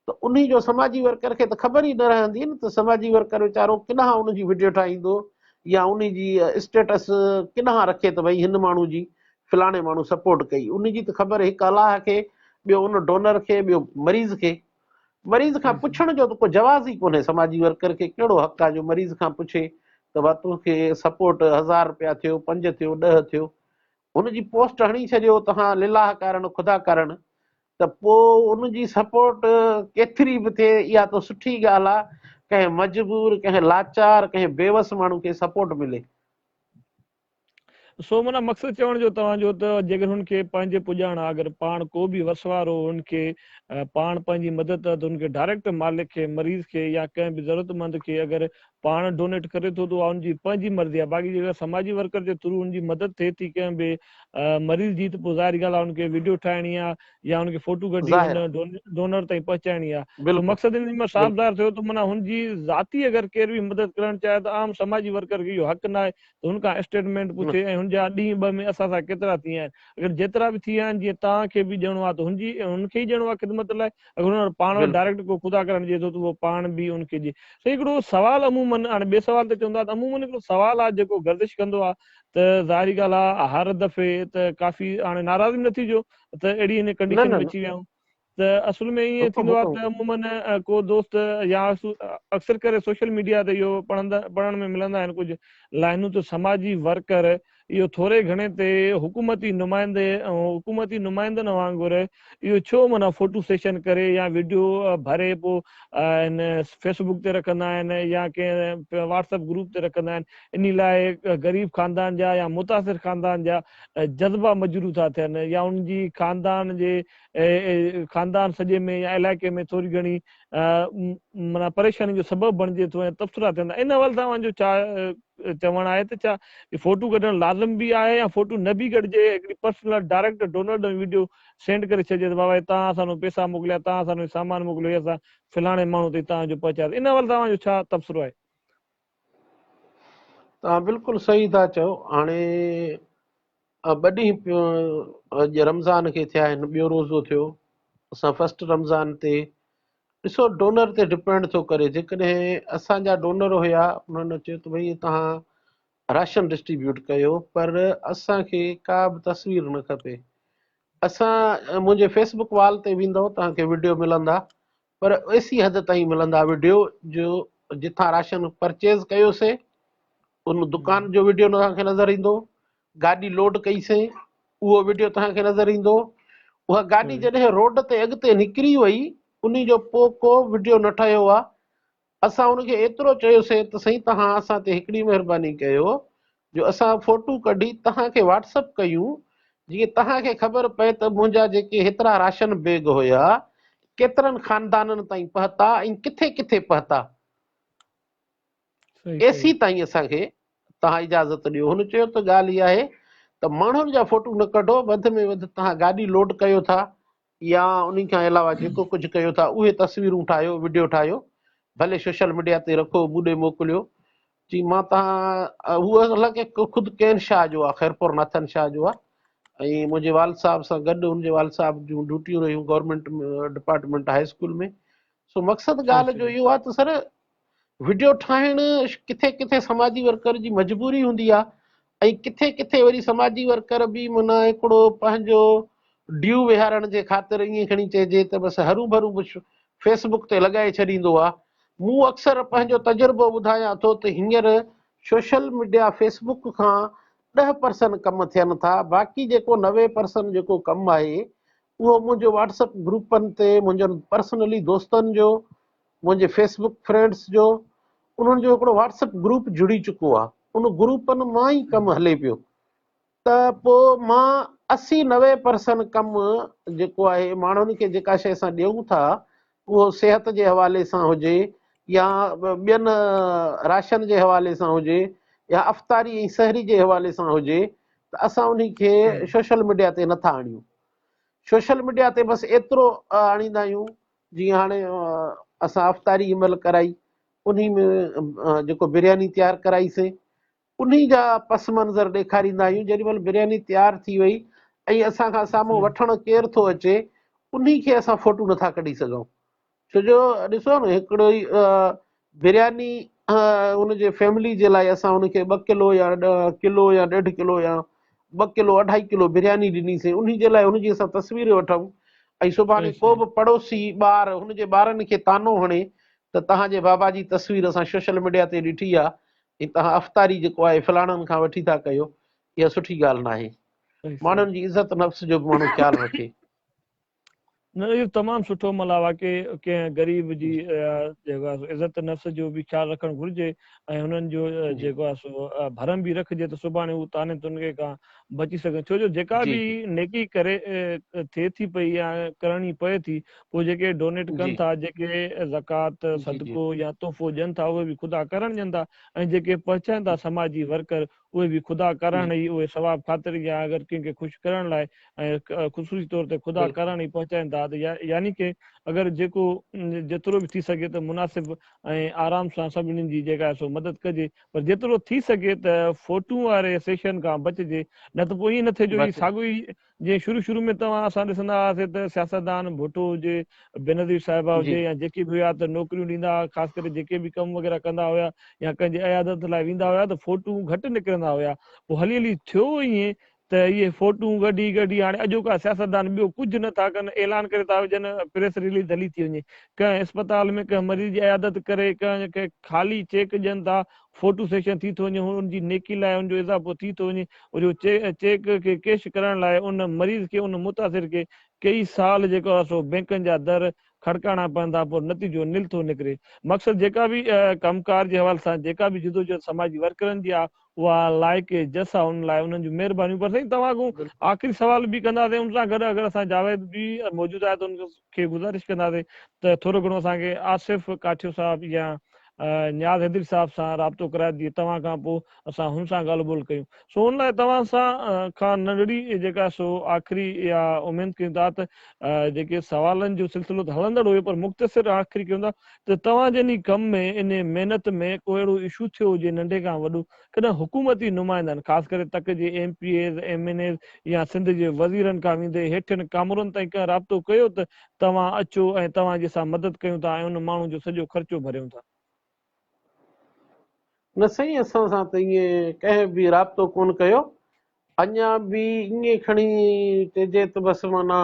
ته انهي جو سماجي ورڪر کي ته خبر ئي نه رهندي نه ته سماجي ورڪر ويچارو ڪڏهن ان جي وڊيو ٺاهيندو يا انهي جي اسٽيٽس ڪڏهن رکي ته ڀئي هن ماڻهو جي فلاڻي ماڻهو سپورٽ ڪئي انهي جي ته خبر هڪ الله کي ٻيو ان ڊونر کي ٻيو مريض کي مريض کان پڇڻ جو ته ڪو جواز ئي ڪونهي سماجي ورڪر کي ڪهڙو حق آهي جو مريض کان پڇي ته ڀا تو کي سپورٽ هزار رپيا ٿيو پنج ٿيو ڏهه ٿيو هن جي پوسٽ هڻي ڇڏيو توهان لله ڪارڻ خدا ڪارڻ ته پو ان جي سپورٽ ڪيتري به ٿئي اها ته سٺي ڳالهه آ ڪنهن مجبور ڪنهن لاچار ڪنهن بيوس ماڻهو کي سپورٽ ملي. سو معنيٰ مقصد چوڻ جو توهان جو ته جيڪڏهن هن کي پنهنجي پڄاڻ آ اگر پاڻ ڪو به وسوارو هن کي پاڻ پنهنجي مدد ته هن کي ڊائريڪٽ مالڪ کي مريض کي يا ڪنهن به ضرورت مند کي اگر پاڻ ڊونيٽ ڪري ٿو ته اها ان جي پنهنجي مرضي آهي باقي جيڪڏهن سماجي ورڪر جي ٿرو ان جي مدد ٿئي ٿي ڪنهن به مريض جي ته پوء ظاهر ڳالهه آهي ان کي وڊيو ٺاهڻي آهي يا ان کي فوٽو ڪڍي ان ڊونر تائين پهچائڻي آهي ته مقصد ان ۾ صاف ظاهر ٿيو ته معنيٰ هن جي ذاتي اگر ڪير به مدد ڪرڻ چاهي ته عام سماجي ورڪر کي اهو حق ناهي هن کان اسٽيٽمينٽ پڇي ۽ هن جا ڏينهن ٻه ۾ اسان سان ڪيترا ٿي ويا آهن. اگر جيترا به ٿي ويا آهن جيئن توهان کي به ڏيڻو آهي ته هن جي هن کي ئي ڏيڻو آهي خدمت لاء. اگر هن وٽ پاڻ وٽ ڊائريڪٽ ڪو خدا ڪرڻ ڏئي ٿو ته اهو پاڻ به هن کي ڏئي. سائين هڪڙو سوال عمومن هاڻي ٻئي سوال تي چوندا ته عمومن هڪڙو سوال آهي جيڪو گردش ڪندو آهي ته ظاهري ڳالهه آهي هر دفعي ته ڪافي هاڻي ناراض به نه ٿيجو ته اهڙي هن ڪنڊيشن ۾ اچي ويا آهيون. ته اصل ۾ ائين ٿيندو آهي ته عمومن ڪو دوست يا اڪثر ڪري سوشل ميڊيا تي اهو پڙهندا پڙهڻ ۾ ملندا آهن ڪجهه لائنون ته سماجي ورڪر اهو ٿوري گهڻي تي حڪومتي نمائندي حڪومتي نمائندن وانگر اهو ڇو معنيٰ فوٽو سيشن ڪري يا ويڊيو ڀري پو ان فيس بڪ تي رکندا آهن يا ڪنهن واٽس اپ گروپ تي رکندا آهن انهي لاء غريب خاندان جا يا متاثر خاندان جا جذبا مجروح ٿا ٿين يا انهن جي خاندان جي خاندان سڄي ۾ يا علائقي ۾ ٿوري گهڻي معنيٰ پريشاني جو سبب بڻجي ٿو ۽ تبصرا ٿين ٿا ان حوالي سان اوهان جو ڇا چوڻ آهي ته ڇا فوٽو ڪڍڻ لازم به آهي يا فوٽو نه به ڪڍجي هڪڙي پرسنل ڊائريڪٽر ڊونلڊ ۾ وڊيو سينڊ ڪري ڇڏجي ته بابا هي توهان اسان نو پيسا موڪليا توهان اسان نو هي سامان موڪليو هي اسان فلاڻي ماڻهو تائين توهان جو پهچايو ان حوالي سان اوهان جو ڇا تبصرو آهي. توهان بلڪل صحيح ٿا چئو هاڻي ٻه ڏينهن اڄ رمضان کي ٿيا آهن ٻيو روزو ٿيو اسان فرسٽ رمضان تي ڏسو ڊونر تي ڊپينڊ ٿو ڪري جيڪڏهن اسانجا ڊونر هيا انهن چيو ته ڀئي توهان راشن ڊسٽريبيوٽ ڪيو پر اسانکي ڪا به تصوير نه کپي اسان منهنجي فيسبوڪ وال تي ويندو توهان کي وڊيو ملندا پر ايسي حد تائين ملندا وڊيو جو جتان راشن پرچيز ڪيوسين ان دڪان جو وڊيو توهان کي نظر ايندو گاڏي لوڊ ڪئي سين اهو وڊيو توهان کي نظر ايندو اها گاڏي جڏهن روڊ تي اڳتي نڪري وئي ان جو پوء ڪو وڊيو نه ٺهيو آهي اسان هن کي ايترو چيوسين ته سائين توهان اسان تي هڪڙي مهرباني ڪيو جو اسان فوٽو ڪڍي توهان کي واٽس اپ ڪيون جيئن توهان کي خبر پئي ته منهنجا جيڪي هيترا راشن بيگ هيا ڪيترن خاندانن تائين پهتا ۽ ڪٿي ڪٿي پهتا اي سي تائين اسان کي توهان اجازت ڏيو هن چيو ته ڳالهه اها آهي ته ماڻهن جا فوٽو نه ڪڍو وڌ ۾ وڌ توهان گاڏي لوڊ ڪيو ٿا يا انهي کان علاوه جيڪو ڪجهه ڪيو ٿا اهي تصويرون ٺاهيو وڊيو ٺاهيو ڀلي سوشل ميڊيا تي رکو مون ڏي موڪليو چي مان تهان هو اصل کي خود ڪين شاهه جو آ خيرپور ناٿن شاهه جو آ ۽ منهنجي والد صاحب سان گڏ ان جي والد صاحب جون ڊيوٽيون رهيون گورنمنٽ ڊپارٽمنٽ هاء اسڪول ۾ سو مقصد ڳالهه جو اهو آ ته سر وڊيو ٺاهڻ ڪٿي ڪٿي سماجي ورڪر جي مجبوري هوندي آهي ۽ ڪٿي ڪٿي وري سماجي ورڪر به معنيٰ هڪڙو پنهنجو ڊيو ويهارڻ جي خاطر ائين کڻي چئجي ته بس هرو ڀرو فيس بڪ تي لڳائي ڇڏيندو آهي مون اڪثر پنهنجو تجربو ٻڌايان ٿو ته هينئر سوشل ميڊيا فيس بڪ کان ڏهه پرسن ڪم ٿين ٿا باقي جيڪو نوي پرسن جيڪو ڪم آهي اهو منهنجو واٽس اپ گروپن تي منهنجن پرسنلي دوستن جو منهنجي فيس بڪ فرينڊس جو انهن جو هڪڙو واٽس اپ گروپ جڙي چڪو آ ان گروپن مان ئي ڪم هلي پيو ته پو مان اسي نوي پرسن ڪم جيڪو آهي ماڻهن کي جيڪا شي اسان ڏيون ٿا اهو صحت جي حوالي سان هجي يا ٻين راشن جي حوالي سان هجي يا افطاري ۽ سحري جي حوالي سان هجي ته اسان انهي کي سوشل ميڊيا تي نٿا آڻيون سوشل ميڊيا تي بس ايترو آڻيندا آهيون جيئن هاڻي اسان افطاري جي مهل ڪرائي انهي ۾ جيڪو برياني تيار ڪرائي سي انهي جا پس منظر ڏيکاريندا آهيون جيڏي مهل برياني تيار ٿي وئي ۽ اسان کان سامهون وٺڻ ڪير ٿو اچي انهي کي اسان فوٽو نٿا ڪڍي سگهون ڇو جو ڏسو ن هڪڙو ئي برياني ان جي فيملي جي لاء اسان ان کي ٻه ڪلو يا ڪلو يا ڏيڍ ڪلو يا ٻه ڪلو اڍائي ڪلو برياني ڏني سين انهي جي لاء ان جي اسان تصوير وٺون ۽ سڀاڻي ڪو به پڙوسي ٻار ان جي ٻارن کي طعنو هڻي ته تهان جي بابا جي تصوير اسان شوشل ميڊيا تي ڏٺي آ ۽ تهان افطاري جيڪو آهي فلاڻن کان وٺي ٿا ڪيو اها سٺي ڳالهه ناهي ماڻهن جي عزت نفس جو به ماڻهو خيال رکي نه اهو تمام سٺو ملا واقعي ڪنهن غريب جي جيڪو آهي عزت نفس جو به خيال رکڻ گهرجي ۽ هنن جو جيڪو آهي سو ڀرم به رکجي ته سڀاڻي هو تاني تنگي کان بچي سگهن ڇو جو جيڪا به نيڪي ڪري ٿئي ٿي پئي يا ڪرڻي پئي ٿي پوء جيڪي ڊونيٽ ڪن ٿا جيڪي زڪات صدقو يا تحفو ڏين ٿا اهي به خدا ڪرڻ ڏين ٿا ۽ جيڪي پهچائين ٿا سماجي ورڪر اهي به خدا ڪرڻ ئي اهي ثواب خاطر يا اگر ڪنهن کي خوش ڪرڻ لاء ۽ خصوصي طور تي خدا ڪرڻ ئي پهچائين ٿا ته يعني ڪي اگر جيڪو جيترو به ٿي سگهي ته مناسب ۽ آرام سان سڀني جي جيڪا آهي سو مدد ڪجي پر جيترو ٿي سگهي ته فوٽون واري سيشن کان بچجي نه ته پوء ائين نه ٿئي جو هي ساڳيو ئي جيئن شروع شروع ۾ توهان اسان ڏسندا هئاسين ته سياستدان ڀٽو هجي، بينظير صاحبه هجي يا جيڪي به هيا ته نوڪريون ڏيندا هئا خاص ڪري جيڪي به ڪم وغيره ڪندا هيا يا ڪنهن جي عيادت لاء ويندا هيا ته فوٽون گهٽ نڪرندا هيا پوء هلي هلي ٿيو ائين ته اهي فوٽون ڳڍي ڳڍي هاڻي اڄوڪا سياستدان ٻيو ڪجهه نه ٿا ڪن اعلان ڪري ٿا وجهن پريس رليز هلي ٿي وڃي ڪنهن اسپتال ۾ ڪنهن مريض جي عيادت ڪري ڪنهن کي خالي چيڪ ڏين ٿا فوٽو سيشن ٿي ٿو وڃي هون ان جي نيڪي لاء ان جو اضافو ٿي ٿو وڃي وري هو چيڪ کي ڪيش ڪرائڻ لاء ان مريض کي ان متاثر کي ڪيئي سال جيڪو آهي سو بينڪن جا در کڙڪاڻا پوندا پر نتيجو نل ٿو نڪري مقصد جيڪا به ڪم ڪار جي حوالي سان جيڪا به جدوجهد سماجي ورڪرن جي آهي اها لائق جس آهي ان لاء انهن جون مهربانيون پر سائين توهان کون آخري سوال به ڪنداسين ان سان گڏ اگر اسان جاويد به موجود آهي ته ان کي کي گذارش ڪنداسين ته ٿورو گهڻو اسان کي آصف ڪاٺيو صاحب يا نياز حيدري صاحب سان رابطو ڪرائي ڏي توهان کان پوء اسان هن سان ڳالهه ٻولهه ڪيون سو ان لاء توهان سان کان ننڍڙي جيڪا سو آخري اها اميد ڪيون ٿا ته جيڪي سوالن جو سلسلو ته هلندڙ هيو پر مختصر آخري ڪيون ٿا ته توهان جن هي ڪم ۾ انهي محنت ۾ ڪو اهڙو اشو ٿيو هجي ننڍي کان وڏو ڪڏهن حڪومتي نمائندن خاص ڪري تڪ جي M P As, M N As يا سنڌ جي وزيرن کان ويندي هيٺين ڪامورن تائين ڪنهن رابطو ڪيو ته توهان اچو ۽ توهان جي سان مدد ڪيون ٿا ۽ ان ماڻهو جو سڄو خرچو ڀريون ٿا؟ نه سائين اسان سان ته ائين ڪنهن به رابطو ڪونه ڪيو اڃا به ائين کڻي چئجي ته بس معنيٰ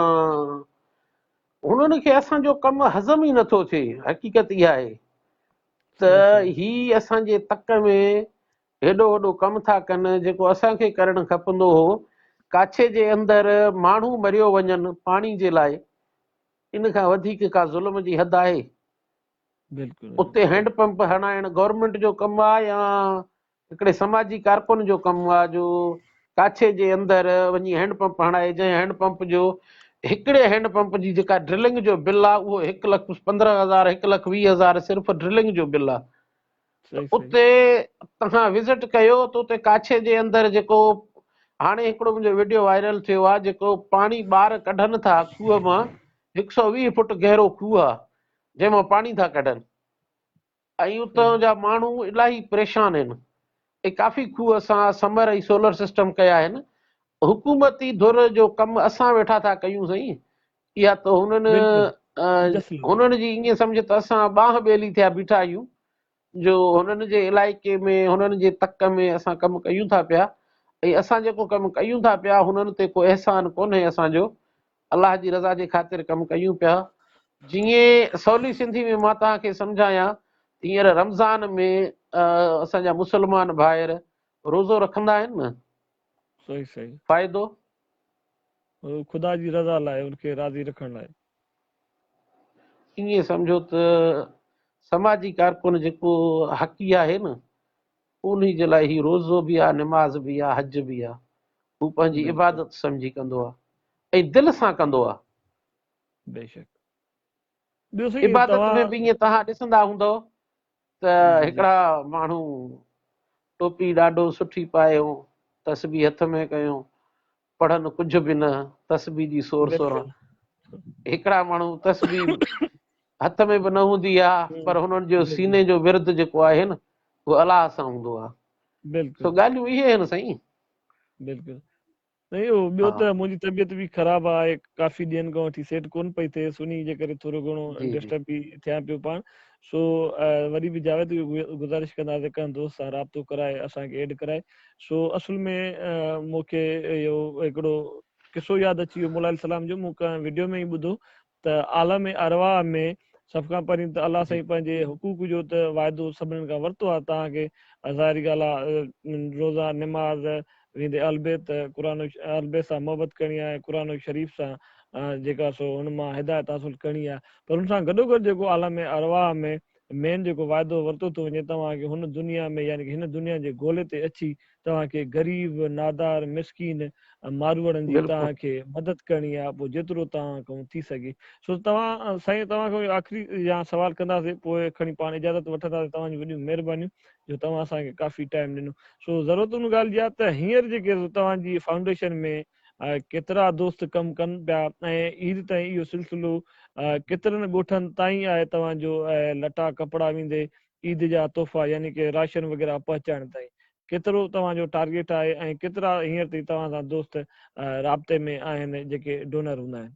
هنن کي اسان جو ڪم هضم ئي نٿو ٿئي حقيقت اها آهي ته هي اسان جي تڪ ۾ هيڏو وڏو ڪم ٿا ڪن جيڪو اسان کي ڪرڻ کپندو هو، ڪاڇي جي اندر ماڻهو مريو وڃن پاڻي جي لاء، ان کان وڌيڪ ڪا ظلم جي حد آهي؟ اتي هينڊ پمپ هڻائڻ گورنمينٽ جو ڪم آ يا هڪڙي سماجي ڪارڪن جو ڪم هو جو ڪاڇي جي اندر وڃي هينڊ پمپ هڻائي جنهن هينڊ پمپ جو هڪڙي هينڊ پمپ جي جيڪا ڊرلنگ جو بل آهي اهو هڪ لک پندرهن هزار هڪ لک ويهه هزار صرف ڊرلنگ جو بل آهي ته اتي توهان وزٽ ڪيو ته اتي ڪاڇي جي اندر جيڪو هاڻي هڪڙو منهنجو ويڊيو وائرل ٿيو آهي جيڪو پاڻي ٻار ڪڍن ٿا کوهه مان هڪ سؤ ويهه فوٽ گهرو کوهه آهي جنهن مان پاڻي ٿا ڪڍن ۽ اتان جا ماڻهو الاهي پريشان آهن ۽ ڪافي کوهه اسان سمر ۽ سولر سسٽم ڪيا آهن حڪومتي ڌر جو ڪم اسان ويٺا ٿا ڪيون سائين اها ته هنن هنن جي ائين سمجهه ته اسان ٻانهن ٻيلي ٿيا بيٺا آهيون جو هنن جي علائقي ۾ هنن جي تڪ ۾ اسان ڪم ڪيون ٿا پيا ۽ اسان جيڪو ڪم ڪيون ٿا پيا هنن تي ڪو احسان ڪونهي اسان جو الله جي رضا جي خاطر ڪم ڪيون پيا. جيئن سولي سنڌي ۾ مان توهان کي سمجهايان ته هينئر رمضان ۾ اسان جا مسلمان ڀائر روزو رکندا آهن نه. صحيح صحيح. فائدو؟ خدا جي رضا لاء ان کي راضي رکڻ لاء. ائين سمجهو ته سماجي ڪارڪن جيڪو حقي آهي نه انهي جي لاء هي روزو به آ، نماز به آ، حج به آ، هو پنهنجي عبادت سمجهي ڪندو آ ۽ دل سان ڪندو آ. عبادت ۾ به ائين توهان ڏسندا هوندؤ ته هڪڙا ماڻهو ٽوپي ڏاڍو سٺي پايو، تسبيح هٿ ۾ ڪيو، پڙهن ڪجهه به نه تسبيح جي سور سوران هڪڙا ماڻهو تسبيح هٿ ۾ به نه هوندي آ پر هنن جو سيني جو ورد جيڪو آهي نه هو الله سان هوندو آ بلڪل سو ڳالهيون اهي آهن سائين بلڪل سائين او ٻيو ته منهنجي طبيعت به خراب آهي ڪافي ڏينهن کان وٺي سيٽ ڪون پئي ٿئي سني جي ڪري ٿورو گهڻو ڊسٽرب به ٿيان پيو پاڻ سو وري به جاويد کي گذارش ڪندا ته ڪنهن دوست سان رابطو ڪرائي اسان کي ايڊ ڪرائي سو اصل ۾ مون کي اهو هڪڙو قصو ياد اچي ويو مولائي السلام جو مون ڪنهن وڊيو ۾ ئي ٻڌو ته عالم ارواح ۾ سڀ کان پهرين ته الله سائين پنهنجي حقوق جو ته واعدو سڀنن کان ورتو آهي تهان کي ظاهري ڳالهه آهي روزا نماز ويندي اهلبيت قرآن اهلبيت سان محبت ڪرڻي آهي قرآن شريف سان جيڪا سو ان مان هدايت حاصل ڪرڻي آهي پر ان سان گڏو گڏ جيڪو عالم ارواح ۾ مين جيڪو وعدو ورتو ٿو وڃي توهان کي هن دنيا ۾ يعني هن دنيا جي گولي تي اچي توهان کي غريب نادار مسڪين ماروئڙن جي توهان کي مدد ڪرڻي آهي پوء جيترو توهان کان ٿي سگهي سو توهان سائين توهان کان آخري يا سوال ڪنداسي پوء کڻي پاڻ اجازت وٺنداسي توهان جون وڏيون مهربانيون جو توهان اسان کي ڪافي ٽائيم ڏنو سو ضرورت ان ڳالهه جي آهي ته هينئر جيڪي توهان جي فائونڊيشن ۾ ڪيترا دوست ڪم ڪن پيا ۽ عيد تائين اهو سلسلو ڪيترن ڳوٺن تائين آهي توهان جو لٽا ڪپڙا ويندي عيد جا تحفا يعني ڪي راشن وغيره پهچائڻ تائين ڪيترو توهان جو ٽارگيٽ آهي ۽ ڪيترا هينئر تائين توهان سان دوست رابطي ۾ آهن جيڪي ڊونر هوندا آهن.